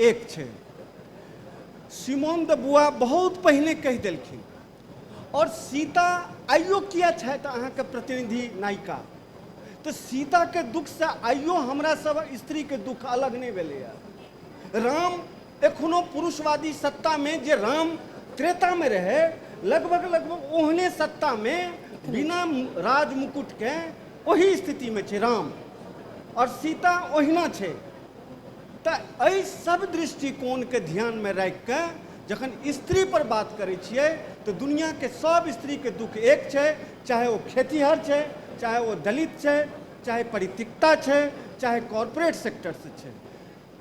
एक छै सिमोन द बुआ बहुत पहिने कहि देलखिन आओर सीता आइयो किया छथि अहाँके प्रतिनिधि नायिका तऽ सीताके दुखसँ आइयो हमरा सब स्त्रीके दुख अलग नहि भेलैए राम एखनो पुरुषवादी सत्तामे जे राम त्रेतामे रहै लगभग लगभग ओहने सत्तामे बिना राज मुकुटके ओही स्थितिमे छै राम आओर सीता ओहिना छै तऽ एहि सब दृष्टिकोणके ध्यानमे राखिके जखन स्त्री पर बात करै छियै तऽ दुनियाके सब स्त्रीके दुःख एक छै चाहे ओ खेतीहर छै चाहे ओ दलित छै चाहे परितिकता छै चाहे कॉर्पोरेट सेक्टरसँ छै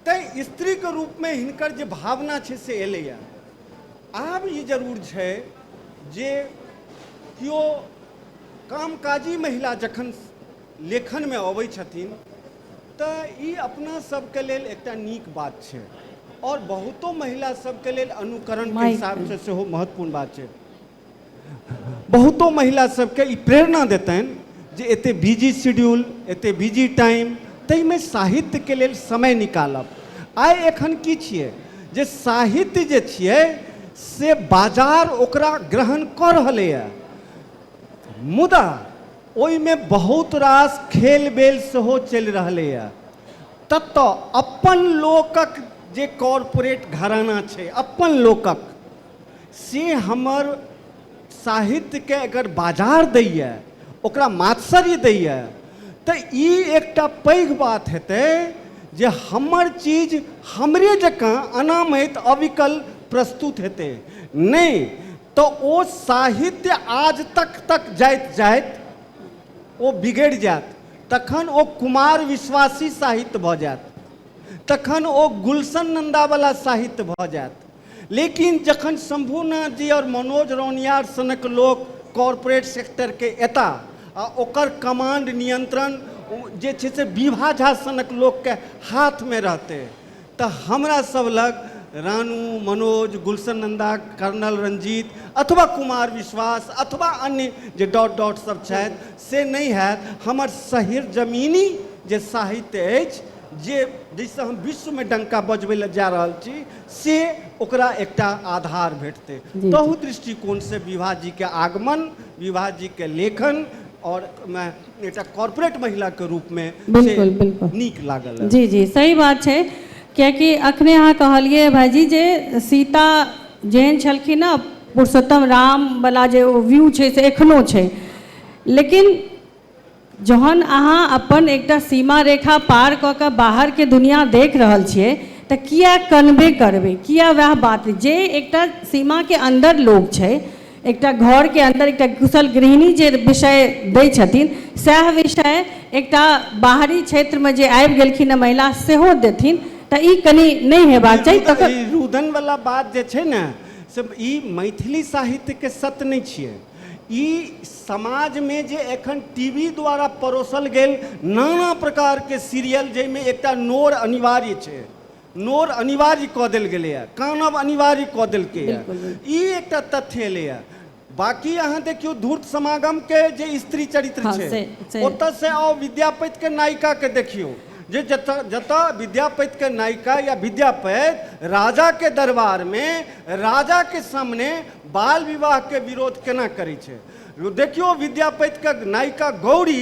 ताहि स्त्रीके रूपमे हिनकर जे भावना छै से एलैए आब ई जरूर छै जे केओ कामकाजी महिला जखन लेखनमे अबै छथिन तऽ ई अपना सबके लेल एकटा नीक बात छै आओर बहुतो महिला सबके लेल अनुकरण के माइक हिसाब से सेहो महत्वपूर्ण बात छै बहुतो महिला सबके ई प्रेरणा देतनि जे एते बिजी शेड्यूल एते बिजी टाइम ताहिमे साहित्य के लेल समय निकालब आइ एखन की छियै जे साहित्य जे छियै से बाजार ओकरा ग्रहण कऽ रहलैए मुदा ओहिमे बहुत रास खेल-बेल सेहो चलि रहलैए। ततऽ अपन लोकक जे कॉरपोरेट घराना छै, अपन लोकक, से हमर साहित्यकेँ अगर बाजार दैए, ओकरा मात्सर्य दैए, तँ ई एकटा पैघ बात हेतै जे हमर चीज हमरे जकाँ अनामैत, अविकल प्रस्तुत हेतै। नहि। तऽ ओ साहित्य आज तक तक जाइत जाइत ओ बिगड़ि जायत तखन ओ कुमार विश्वासी साहित्य भऽ जायत तखन ओ गुलशन नन्दावला साहित्य भऽ जायत लेकिन जखन शम्भुनाथ जी आओर मनोज रौनियार सनक लोक कॉरपोरेट सेक्टरके एता आ ओकर कमांड नियंत्रण जे छै से विभा झा सनक लोकके हाथमे रहतै त हमरा सब लग रानू, मनोज, गुलशन नन्दा, कर्नल रंजीत अथवा कुमार विश्वास अथवा अन्य जे डॉट डॉट सब छथि से नहि हएत। हमर सहिरजमीनी जे साहित्य अछि जे जाहिसँ हम विश्वमे डंका बजबै लए जा रहल छी से ओकरा एकटा आधार भेटतै। जी जी। तहु दृष्टिकोणसँ विभाजीके आगमन, विभाजीके लेखन आओर ओहिमे एकटा कॉर्पोरेट महिला के रूप में से बिल्कुल, बिल्कुल। नीक लागल है। जी जी सही बात छै कियाकि अखने अहाँ कहलियै भाईजी जे सीता जेहन छलखिन ने पुरुषोत्तम राम वाला जे ओ व्यू छै से एखनो छै लेकिन जहन अहाँ अपन एकटा सीमा रेखा पार कऽ कऽ बाहर के दुनिया देख रहल छियै तऽ किया कनबे करबै किया वएह बात जे एकटा सीमा के अन्दर लोग छै एकटा घर के अंदर एकटा कुशल गृहिणी जे विषय दै छथिन सएह विषय एकटा बाहरी क्षेत्र में जे आबि गेलखिन हँ महिला सेहो देथिन तऽ ई कनि नहि हेबाक चाही तकर ई रुदन वाला बात जे छै ने से ई मैथिली साहित्य के सत नहि छियै ई समाज में जे एखन टीवी द्वारा परोसल गेल नाना प्रकार के सीरियल जाहिमे एकटा नोर अनिवार्य छै नोर अनिवार्य कऽ देल गेलैए कानब अनिवार्य कऽ देलकैए बिल्कुल, बिल्कुल। ई एकटा तथ्य एलैए बाकी अहाँ देखियौ धूर्त समागम के जे स्त्री चरित्र हँ, छै से- से- ओतऽ से आउ विद्यापति के नायिका के देखियौ जे जतऽ जतऽ विद्यापति के नायिका या विद्यापति राजा के दरबार में राजा के सामने बाल विवाह के विरोध केना करै छै देखियौ विद्यापति के नायिका गौरी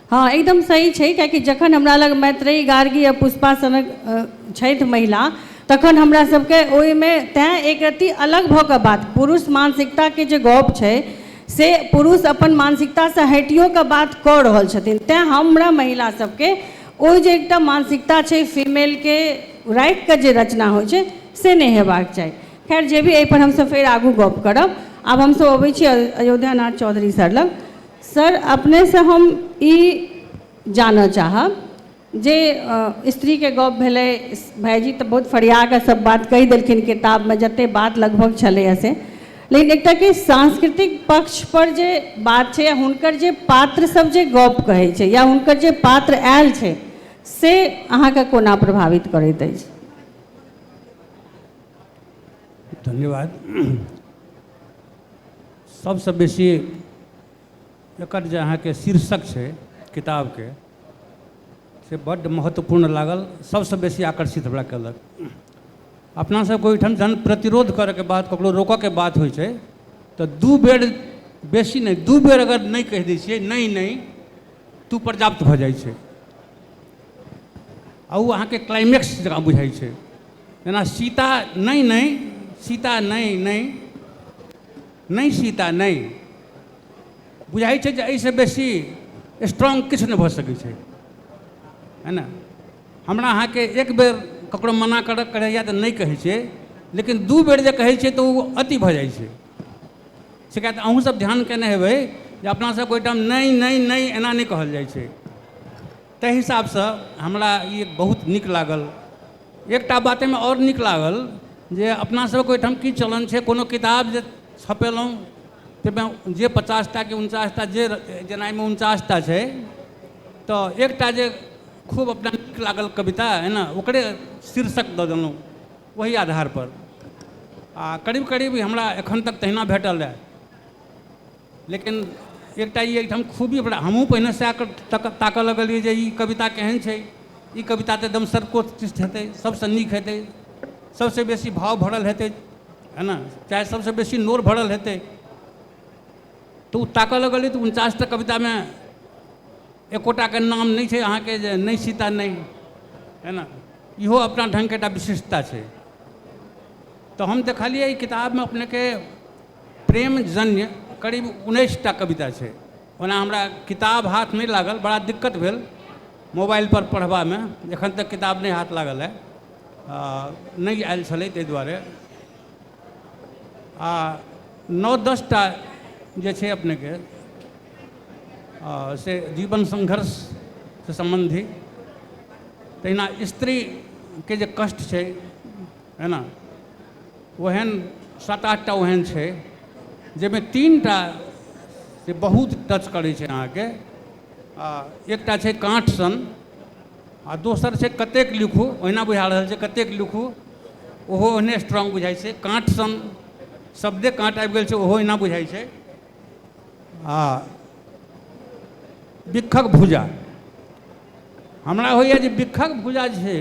हँ एकदम सही छै कियाकि जखन हमरा लग मैत्रेयी गार्गी आ पुष्पा सनक छथि महिला तखन हमरा सबके ओहिमे तैं एक रत्ती अलग भऽ कऽ बात पुरुष मानसिकताके जे गप छै से पुरुष अपन मानसिकतासँ हटियो कऽ बात कऽ रहल छथिन तैं हमरा महिला सबके ओ जे एकटा मानसिकता छै फीमेलके राखि कऽ जे रचना होइ छै से नहि हेबाक चाही खैर जे भी एहिपर हमसब फेर आगू गप करब आब हमसब अबै छी अयोध्यानाथ चौधरी सर लग सर अपनेसँ हम ई जानऽ चाहब जे स्त्रीके गप भेलै भाइजी तऽ बहुत फरियाकऽ सभ बात कहि देलखिन किताबमे जतेक बात लगभग छलैए से लेकिन एकटा कि सांस्कृतिक पक्षपर जे बात छै हुनकर जे पात्रसभ जे गप कहै छै या हुनकर जे पात्र आयल छै से अहाँके कोना प्रभावित करैत अछि धन्यवाद सभसँ बेसी एकर जे अहाँके शीर्षक छै किताबके से बड्ड महत्वपूर्ण लागल सभसँ बेसी आकर्षित हमरा कयलक अपनासभके ओहिठाम जहन प्रतिरोध करयके बाद ककरो रोकयके बात होइ छै तऽ दू बेर बेसी नहि दू बेर अगर नहि कहि दै छियै नहि नहि तऽ ओ पर्याप्त भऽ जाइ छै आ ओ अहाँके क्लाइमेक्स जकाँ बुझाइ छै जेना सीता नहि नहि सीता नहि नहि नहि सीता नहि बुझाइ छै जे एहिसँ बेसी स्ट्रांग किछु नहि भऽ सकै छै है ने हमरा अहाँके एक बेर ककरो मना कर करैए तऽ नहि कहै छियै लेकिन दू बेर जे कहै छियै तऽ ओ अति भऽ जाइ छै से किया तऽ अहूँसभ ध्यान कयने हेबै जे अपनासभके ओहिठाम नहि नहि नहि एना नहि कहल जाइ छै ताहि हिसाबसँ हमरा ई बहुत नीक लागल एकटा बात एहिमे आओर नीक लागल जे अपना सबके ओहिठाम की चलन छै कोनो किताब जे छपेलहुँ ताहिमे जे पचासटा कि उनचासटा जे जेना एहिमे उनचासटा छै तऽ एकटा जे खूब अपना नीक लागल कविता है ने ओकरे शीर्षक दऽ देलहुँ ओहि आधारपर आओर करीब करीब हमरा एखन तक तहिना भेटल अइ लेकिन एकटा ई एहिठाम खूबी हमरा हमहूँ पहिने सएह तक ताकऽ लगलिए जे ई कविता केहन छै ई कविता तऽ एकदम सर्वोत्कृष्ट हेतै सबसँ नीक हेतै सबसँ बेसी भाव भरल हेतै है ने चाहे सबसँ बेसी नोर भरल हेतै तऽ ओ ताकऽ लगलिए तऽ उनचासटा कवितामे एकोटाके नाम नहि छै अहाँके जे नहि सीता नहि है ने इहो अपना ढङ्गके एकटा विशिष्टता छै तऽ हम देखलिए ई किताबमे अपनेके प्रेमजन्य करीब उन्नैस टा कविता छै ओना हमरा किताब हाथ नहि लागल बड़ा दिक्कत भेल मोबाइलपर पढ़बामे एखन तक किताब नहि हाथ लागल हँ नहि आयल छलै ताहि दुआरे आ नओ दस टा जे छै अपनेके से जीवन संघर्ष से सम्बन्धी तहिना स्त्रीके जे कष्ट छै है ना ओहन सात आठ टा ओहन छै जाहिमे तीन टा से बहुत टच करै छै अहाँके आ एकटा छै काँठ सन आ दोसर छै कतेक लिखू ओहिना बुझा रहल छै कतेक लिखू ओहो ओहने स्ट्रांग बुझाइ छै काँठ सन शब्दे काँट आबि गेल छै ओहो ओहिना बुझाइ छै आ बिक्खक भुजा हमरा होइए जे बिक्खक भुजा जे छै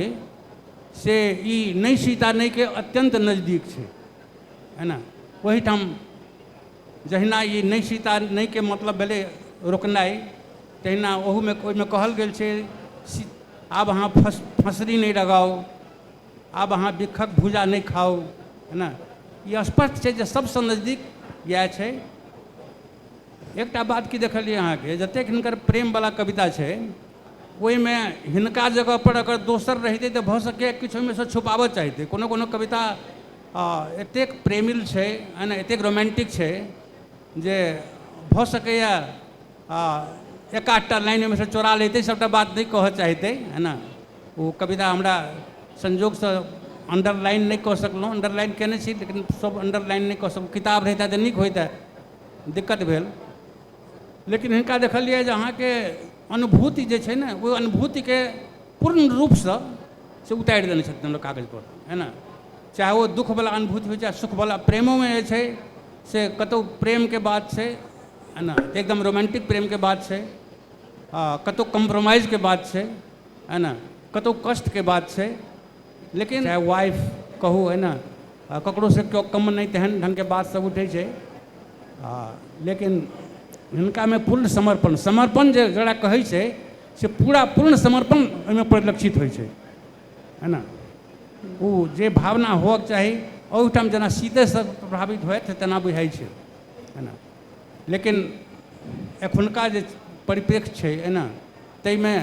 से ई नहि सीता नहिके अत्यन्त नजदीक छै है ने ओहिठाम जहिना ई नहि सीता नहिके मतलब भेलै रोकनाइ तहिना ओहूमे ओहिमे कहल गेल छै आब अहाँ फस फसरी नहि लगाउ आब अहाँ बिखक भूजा नहि खाउ है ने ई स्पष्ट छै जे सबसँ नजदीक इएह छै एकटा बात की देखलियै अहाँके जतेक हिनकर प्रेमवला कविता छै ओहिमे हिनका जगह पर अगर दोसर रहितै तऽ भऽ सकैया किछु ओहिमे सँ छुपाबऽ चाहितै कोनो कोनो कविता एतेक प्रेमिल छै एना एतेक रोमांटिक छै जे भऽ सकैया एक आधटा लाइन ओहिमे सँ चोरा लैतै सभटा बात नहि कहऽ चाहितै है ने ओ कविता हमरा संयोगसँ अंडरलाइन नहि कऽ सकलहुँ अंडरलाइन कयने छी लेकिन सभ अंडरलाइन नहि कऽ सकलहुँ किताब रहितै तऽ नीक होइतै दिक्कत भेल लेकिन हिनका देखलियै जे अहाँके अनुभूति जे छै ने ओहि अनुभूतिके पूर्ण रूपसँ से उतारि देने छथिन हमरा कागजपर है ने चाहे ओ दुःखवला अनुभूति होइ चाहे सुखवला प्रेमोमे जे छै से कतहु प्रेमके बात छै है ने एकदम रोमांटिक प्रेमके बात छै आ कतहु कम्प्रोमाइजके बात छै है ने कतहु कष्टके बात छै लेकिन चाहे वाइफ कहू है ने ककरोसँ केओ कम नहि तेहन ढङ्गके बातसभ उठै छै आ लेकिन हिनकामे पूर्ण समर्पण समर्पण जे जकरा कहै छै से पूरा पूर्ण समर्पण ओहिमे परिलक्षित होइ छै है ने ओ जे भावना होअके चाही ओहिठाम जेना सीतेसँ प्रभावित होइत तेना बुझाइ छै है ने लेकिन एखुनका जे परिप्रेक्ष्य छै है ने ताहिमे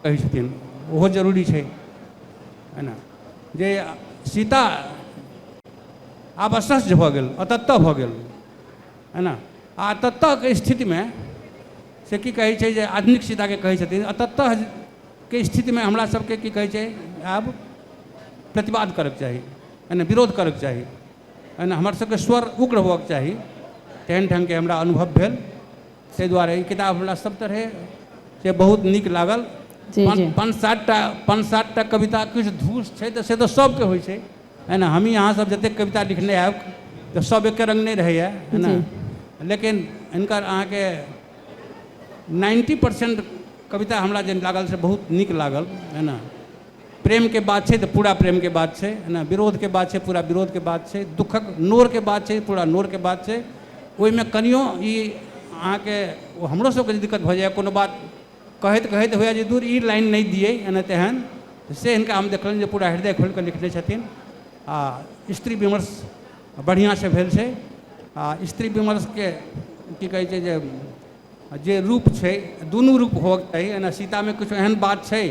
कहै छथिन ओहो जरूरी छै है ने जे सीता आब असह्य भऽ गेल अतत्तः भऽ गेल है ने आ अतत्तःके स्थितिमे से की कहै छै जे आधुनिक सीताके कहै छथिन अतत्तःके स्थितिमे हमरा सबके की कहै छै आब प्रतिवाद करैके चाही है ने विरोध करैके चाही है ने हमर सबके स्वर उग्र होबऽके चाही तेहन ढङ्गके हमरा अनुभव भेल ताहि दुआरे ई किताब हमरा सब तरहे से बहुत नीक लागल जी, पाँच जी। पाँच सातटा पाँच सातटा कविता किछु धूस छै तऽ से तऽ सबके होइ छै है ने हमही अहाँ सब जतेक कविता लिखने आयब तऽ सब एके रंग नहि रहैया है ने लेकिन हिनकर अहाँके नाइन्टी परसेंट कविता हमरा जे लागल से बहुत नीक लागल है ने प्रेमके बात छै तऽ पूरा प्रेमके बात छै एना विरोधके बात छै पूरा विरोधके बात छै दुःखक नोरके बात छै पूरा नोरके बात छै ओहिमे कनियो ई अहाँके हमरो सबके जे दिक्कत भऽ जाइए कोनो बात कहैत कहैत होइए जे दूर ई लाइन नहि दियै एना तेहन से हिनका हम देखलनि जे पूरा हृदय खोलि कऽ लिखने छथिन आ स्त्री विमर्श बढ़िआँसँ भेल छै आ स्त्री विमर्शके की कहै छै जे जे रूप छै दुनू रूप होबक चाही एना सीतामे किछु एहन बात छै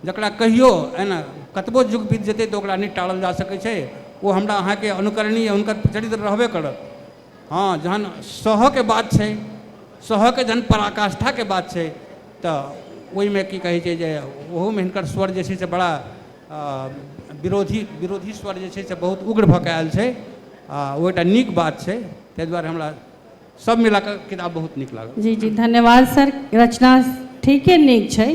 जकरा कहियो एना कतबो युग बीत जेतै तऽ ओकरा नहि टारल जा सकै छै ओ हमरा अहाँके अनुकरणीय हुनकर चरित्र रहबे करत हँ जहन सहऽके बात छै सहऽके जहन पराकाष्ठाके बात छै तऽ ओहिमे कि कहै छै जे ओहूमे हिनकर स्वर जे छै से बड़ा विरोधी विरोधी स्वर जे छै से बहुत उग्र भऽ कऽ आएल छै आओर ओ एकटा नीक बात छै ताहि दुआरे हमरा सब मिला कऽ किताब बहुत नीक लागल जी जी धन्यवाद सर रचना ठीके नीक छै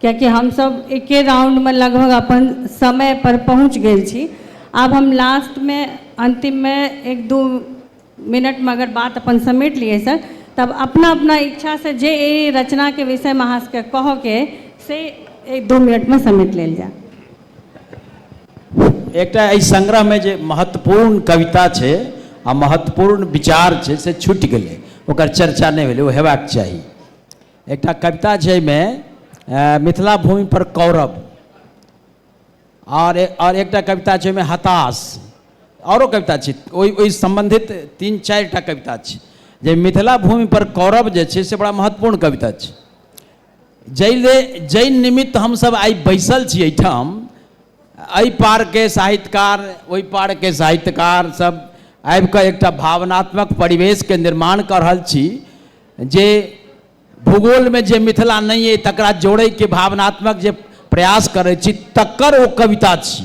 कियाकि हमसभ एके राउंडमे लगभग अपन समय पर पहुँच गेल छी आब हम लास्टमे अन्तिममे एक दू मिनटमे अगर बात अपन समेट लिए सर तब अपना अपना इच्छासँ जे एहि रचनाके विषयमे अहाँ सभके कहऽके अइ से एक दू मिनटमे समेट लेल जाय एकटा एहि संग्रहमे जे महत्वपूर्ण कविता छै आ महत्वपूर्ण विचार छै से छूटि गेलै ओकर चर्चा नहि भेलै ओ हेबाक चाही एकटा कविता छै एहिमे मिथिला भूमि पर कौरव आओर आओर एकटा कविता छै ओहिमे हताश आओरो कविता छै ओहि ओहि सम्बन्धित तीन चारिटा कविता छै जे मिथिला भूमि पर कौरव जे छै से बड़ा महत्वपूर्ण कविता छै जैले जै निमित्त हमसभ आइ बैसल छी एहिठाम एहि पारके साहित्यकार ओहि पारके साहित्यकार सब आबि कऽ एकटा भावनात्मक परिवेशके निर्माण कऽ रहल छी जे भूगोलमे जे मिथिला नहि अइ तकरा जोड़ैके भावनात्मक जे प्रयास करै छी तकर ओ कविता छी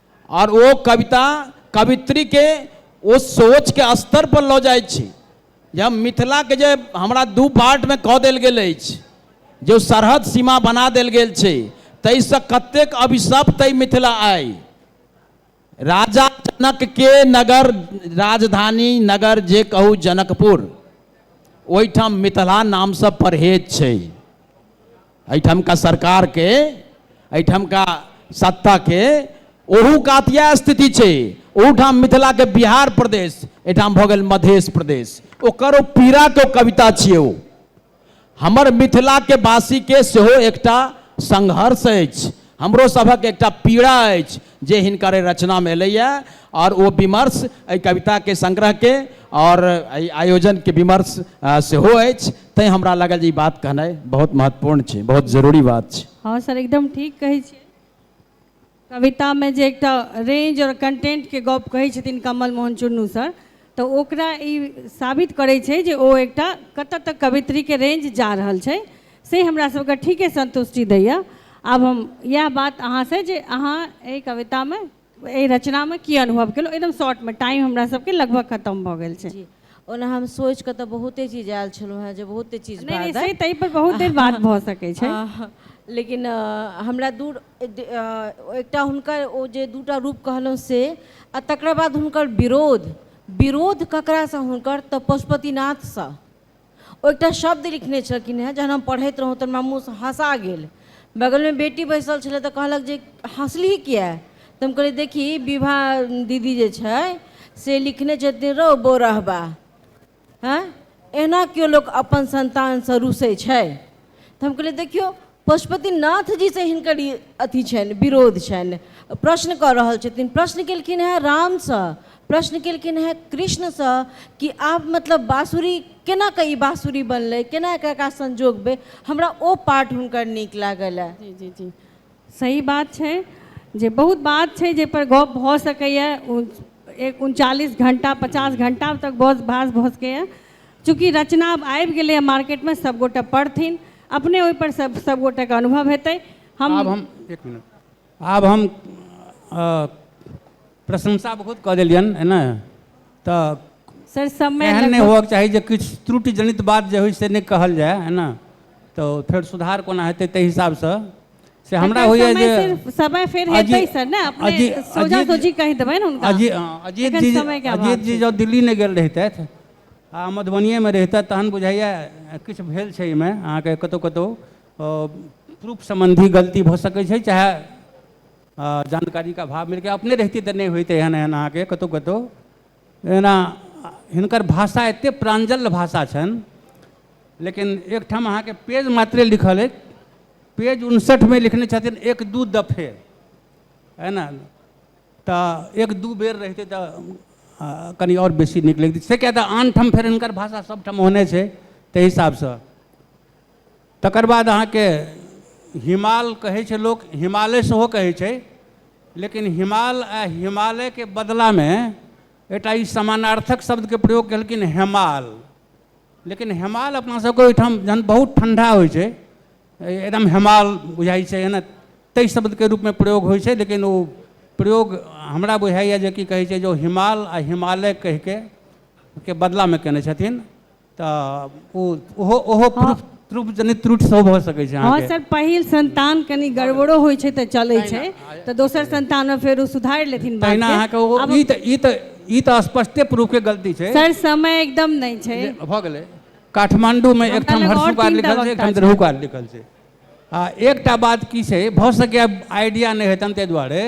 आओर ओ कविता कवित्रीके ओ सोचके स्तर पर लऽ जाइत छी जे हम मिथिलाके जे हमरा दू पार्टमे कऽ देल गेल अछि जे ओ सरहद सीमा बना देल गेल छै ताहिसँ कतेक अभिशप्त अइ मिथिला आइ राजा जनकके नगर राजधानी नगर जे कहू जनकपुर ओहिठाम मिथिला नामसँ परहेज छै एहिठामका सरकारके एहिठामका सत्ताके ओहू कात इएह स्थिति छै ओहूठाम मिथिलाके बिहार प्रदेश एहिठाम भऽ गेल मधेश प्रदेश ओकर ओ पीड़ाके ओ कविता छियै ओ हमर मिथिलाके वासीके सेहो एकटा संघर्ष अछि हमरो सभक एकटा पीड़ा अछि जे हिनकर एहि रचनामे एलैए आओर ओ विमर्श एहि कविताके संग्रहके आओर एहि आयोजनके विमर्श सेहो अछि तैँ हमरा लागल जे ई बात कहनाइ बहुत महत्वपूर्ण छै बहुत जरूरी बात छै हँ सर एकदम ठीक कहै छी कवितामे जे एकटा रेंज आओर कंटेंटके गप कहै छथिन कमल मोहन चुन्नू सर तऽ ओकरा ई साबित करै छै जे ओ एकटा कतऽ तक कवित्रीके रेंज जा रहल छै से हमरा सबके ठीके संतुष्टि दैए आब हम इएह बात अहाँसँ जे अहाँ एहि कवितामे एहि रचनामे की अनुभव केलहुँ एकदम शॉर्टमे टाइम हमरा सबके लगभग खतम भऽ गेल छै ओना हम सोचि कऽ तऽ बहुते चीज आयल छलहुँ हेँ जे बहुते चीज नहि नहि से ताहि पर बहुत देर बात भऽ सकै छै लेकिन हमरा दूर एकटा हुनकर ओ जे दूटा रूप कहलहुँ से आ तकरा बाद हुनकर विरोध विरोध ककरासँ हुनकर तऽ पशुपतिनाथसँ ओ एकटा शब्द लिखने छलखिन हेँ जहन हम पढ़ैत रहौँ तऽ हमरा मुँहसँ हँसा गेल बगलमे बेटी बैसल छलै तऽ कहलक जे हँसली किया तऽ हम कहलियै देखी विभा दीदी जे छै से लिखने छथिन रौ बौरहबा आँय एना केओ लोक अपन संतानसँ रूसै छै तऽ हम कहलियै देखियौ पशुपतिनाथजीसँ हिनकर ई अथी छनि विरोध छनि प्रश्न कऽ रहल छथिन प्रश्न केलखिन हेँ रामसँ प्रश्न केलखिन हेँ कृष्णसँ कि आब मतलब बाँसुरी केना कऽ ई बाँसुरी बनलै केना कऽ एकरा संजोगबै हमरा ओ पार्ट हुनकर नीक लागल ए जी जी जी सही बात छै जे बहुत बात छै जाहिपर गप भऽ सकैए एक उनचालिस घण्टा पचास घण्टा तक बस भास भऽ सकैए चूँकि रचना आब आबि गेलैए मार्केटमे सभगोटे पढ़थिन अपने ओहिपर सभ सभगोटेके अनुभव हेतै हम आब हम एक मिनट आब हम अ, प्रशंसा बहुत कऽ देलियनि है ने तऽ सर समय एहन नहि लगभग- होबक चाही जे किछु त्रुटि जनित बात जे होइ से नहि कहल जाय है ने तऽ फेर सुधार कोना हेतै ताहि हिसाबसँ से हमरा एकर होइए समय जे सिर्फ- समय फेर अजी- हेतै सर ने अपने अजी- सोझा अजीत- सोझी कहि देबै ने हुनका अजी- हँ, अजीत एखन जी समय के अभाव अजीत जी छै। जँ दिल्ली नहि गेल रहितथि आ मधुबनिएमे रहितथि तहन बुझाइए किछु भेल छै एहिमे अहाँके कतहु कतहु प्रूफ सम्बन्धी गलती भऽ सकै छै चाहे जानकारीके अभाव मिलके अपने रहिते तऽ नहि होइते एहन एहन अहाँके कतहु कतहु एना हिनकर भाषा एतेक प्राञ्जल भाषा छनि लेकिन एकठाम अहाँके पेज मात्रे लिखल अछि पेज उनसठिमे लिखने छथिन एक दू दफे है ने तऽ एक दू बेर रहितै तऽ कनि आओर बेसी नीक लगितै से किएक तऽ आन ठाम फेर हिनकर भाषा सभठाम ओहने छै ताहि हिसाबसँ तकर बाद अहाँके हिमाल कहै छै लोक हिमालय सेहो कहै छै लेकिन हिमाल आ हिमालयके बदलामे एकटा ई समानार्थक शब्दके प्रयोग केलखिन हेमाल लेकिन हेमाल अपना सबके ओहिठाम जहन बहुत ठण्डा होइ छै एकदम हेमाल बुझाइ छै एना ताहि शब्दके रूपमे प्रयोग होइ छै लेकिन ओ प्रयोग हमरा बुझाइए जे की कहै छै जे ओ हिमाल आ हिमालय कहिके के बदलामे कयने छथिन तऽ ओ ओहो ओहो हँ। प्रूफ प्रूफ जनित त्रुट सेहो भऽ सकै छै हँ अहाँके सर पहिल संन्तान कनि गड़बड़ो होइ छै तऽ चलै छै तऽ दोसर संन्तानमे फेर ओ सुधारि लेथिन तहिना बादके अहाँके ओ आब ई तऽ ई तऽ ई तऽ स्पष्टे प्रूफके गलती छै सर समय एकदम नहि छै जे भऽ गेलै काठमाण्डूमे एक हमरा ठाम लग आओर हरषुकार तीन टा लिखल छै एक वक्ता ठाम द्रहुकार लिखल छै आ एकटा बात की छै भऽ सकैए आइडिया नहि हेतनि ताहि दुआरे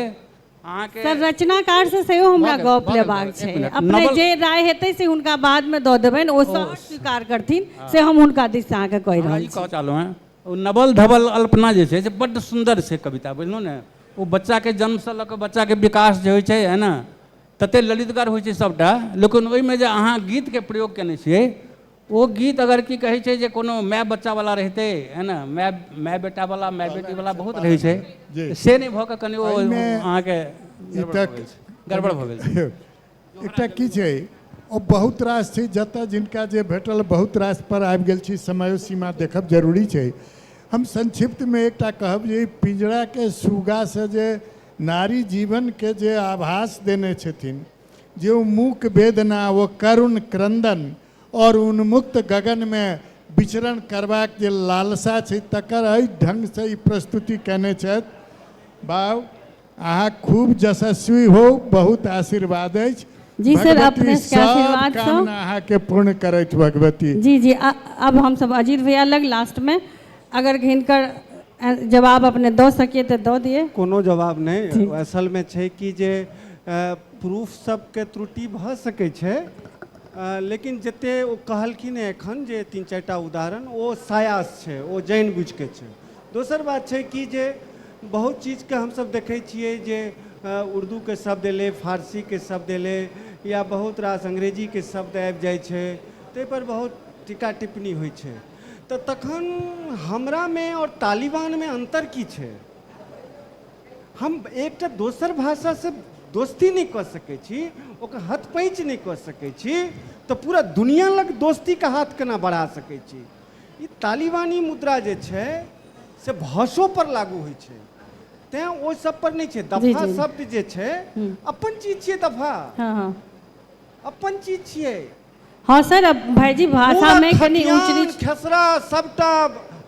अहाँके सर रचनाकार से सेहो हमरा भऽ गेल, गप भऽ गेल, लेबाक भऽ गेल। छै एक मिनट, अपने नवल- जे राय हेतै से हुनका बाद में दऽ देबनि ओ सहज स्वीकार करथिन से हम हुनका दिस से अहाँके कहि हमरा रहल ई छी कहऽ चाहलहुँ हेँ ओ नवल धवल अल्पना जे छै से बड्ड सुन्दर छै कविता बुझलहुँ ने ओ बच्चाके जन्मसँ लऽ कऽ बच्चाके विकास जे होइ छै है ने ततेक ललितगर होइ छै सभटा लेकिन ओहिमे जे अहाँ गीतके प्रयोग कयने छियै ओ गीत अगर की कहै छै जे कोनो माय बच्चा वाला रहिते है ने माय माय बेटा वाला माय बेटी वाला बहुत रहै छै से नहि भऽ कऽ कनि ओ अहाँके गड़बड़ भऽ गेल छै एकटा की छै ओ बहुत रास छै जतऽ जिनका जे भेटल बहुत रास पर आबि गेल छी समयो सीमा देखब जरूरी छै हम संक्षिप्तमे एकटा कहब जे पिंजराके सुगासँ जे नारी जीवनके जे आभास देने छथिन ज्यों मूक वेदना ओ करुण क्रंदन और उन्मुक्त गगन मे विचरण करबाक जे लालसा छै तकर एहि ढंग सँ ई प्रस्तुति कयने छथि। बाउ अहाँ खूब जशस्वी होउ बहुत आशीर्वाद अछि। जी सर भगवती अपने सबके सब आशीर्वाद सँ। कामना अहाँ के पूर्ण करथि भगवती। जी जी आ अब हम सब अजीत भैया लग लास्ट मे अगर हिनकर जवाब अपने दऽ सकिए तऽ दऽ दिए कोनो जवाब नहि असलमे छै कि जे प्रूफ सबके त्रुटि भऽ सकै छै लेकिन जते ओ कहलखिन हँ एखन जे तीन चारि टा उदाहरण ओ सायास छै ओ जानि बुझि कऽ छै दोसर बात छै कि जे बहुत चीजके हमसब देखै छियै जे उर्दूके शब्द एलै फारसीके शब्द एलै या बहुत रास अंग्रेजीके शब्द आबि जाइ छै ताहि पर बहुत टीका टिप्पणी होइ छै त तखन हमरा मे और तालिबान मे अंतर की छै? हम एकटा दोसर भाषा से दोस्ती नहि क सकै छी, ओकर हथपैंच नहि क सकै छी त पूरा दुनिया लग दोस्ती के हाथ केना बढ़ा सकै छी? ई तालिबानी मुद्रा जे छै से भाषो पर लागू होइ छै। तें ओहि सब पर नहि छै। जी, दफा जी। शब्द जे छै, हम्म। अपन चीज छियै दफा। हँ, हँ। अपन चीज छियै। हँ सर अब भाईजी भाषा में कनी ऊंच नीच खेसरा सबटा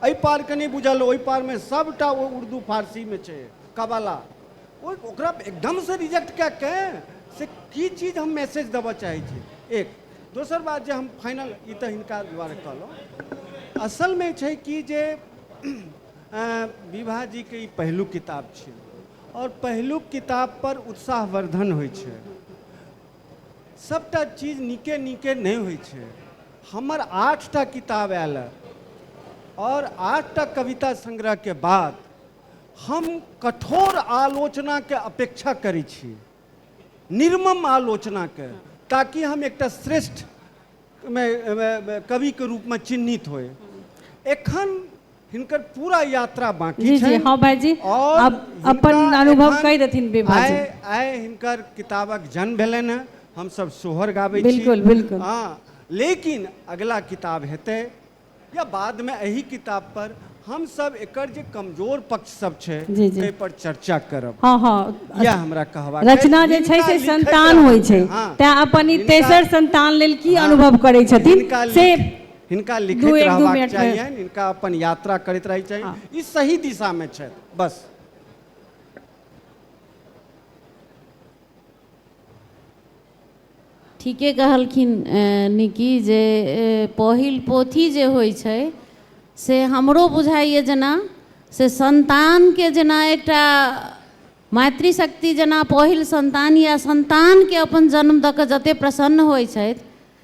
एहि पार के नहि बुझल ओहि पार में सबटा ओ उर्दू फारसी में छै कबाला ओ ओकरा एकदम से रिजेक्ट कए के से की चीज हम मैसेज देबऽ चाहै छी एक दोसर बात जे हम फाइनल ई तऽ हिनका दुआरे कहलहुँ असल में छै कि जे अ, विभा जी के ई पहिलुक किताब छियै और पहिलुक किताब पर उत्साहवर्धन होइ छै सभटा चीज नीके नीके नहि होइ छै हमर आठटा किताब आयल आओर आठटा कविता संग्रहके बाद हम कठोर आलोचनाके अपेक्षा करै छी निर्मम आलोचनाके ताकि हम एकटा श्रेष्ठ कविके रूपमे चिन्हित होय एखन हिनकर पूरा यात्रा बाकी जी जी हाँ भाई जी अब अपन अनुभव कह देथिन विभा जी आए हिनकर किताबक जन्म भेलन है हम सब सोहर गाबे बिल्कुल बिल्कुल हाँ लेकिन अगला किताब हेते या बाद में यही किताब पर हम सब एकर जे कमजोर पक्ष सब छे ते पर चर्चा करब हाँ हाँ या हमरा कहवा रचना जे छे से संतान होई छे हाँ। ते अपन तेसर संतान लेल की हाँ। अनुभव करे छथिन से हिनका दू- लिखैत एक- दू रहबाक मिनट मे- चाहियनि हिनका अपन यात्रा करैत रहै चाहिए हाँ। ई सही दिशा में छथि बस ठीके कहलखिन अ, निकी जे अ, पहिल पोथी जे होइ छै से हमरो बुझाइए जेना से संतानके जेना एकटा मातृशक्ति जेना पहिल संतान या संतानके अपन जन्म दऽ कऽ जतेक प्रसन्न होइ छथि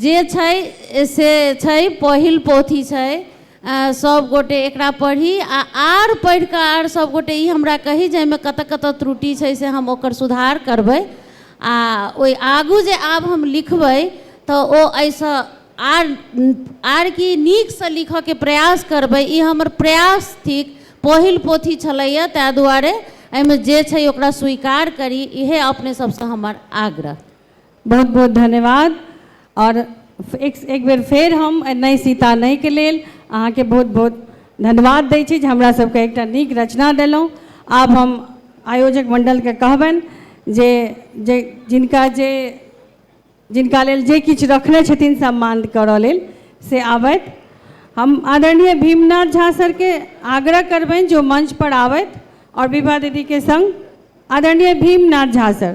जे छै से छै पहिल पोथी छै सब गोटे एकरा पढ़ी आ आर पढ़ि कऽ आर सब गोटे ई हमरा कही जे एहिमे कतऽ कतऽ त्रुटि छै से हम ओकर सुधार करबै आ ओहि आगू जे आब हम लिखबै तऽ ओ एहिसँ आर आर की नीकसँ लिखऽके प्रयास करबै ई हमर प्रयास थिक पहिल पोथी छलैया ताहि दुआरे एहिमे जे छै ओकरा स्वीकार करी इहे अपने सबसँ हमर आग्रह बहुत बहुत धन्यवाद और एक एक बेर फेर हम नहि सीता नहि के लेल अहाँके बहुत बहुत धन्यवाद दै छी जे हमरा सबके एकटा नीक रचना देलहुँ आब हम आयोजक मण्डलके कहबनि जे जे जिनका जे जिनका लेल जे किछु रखने छथिन सम्मान करऽ लेल से आबथि हम आदरणीय भीमनाथ झा सरके आग्रह करबनि जे ओ मंच पर आबथि और विभा दीदीके सङ्ग आदरणीय भीमनाथ झा सर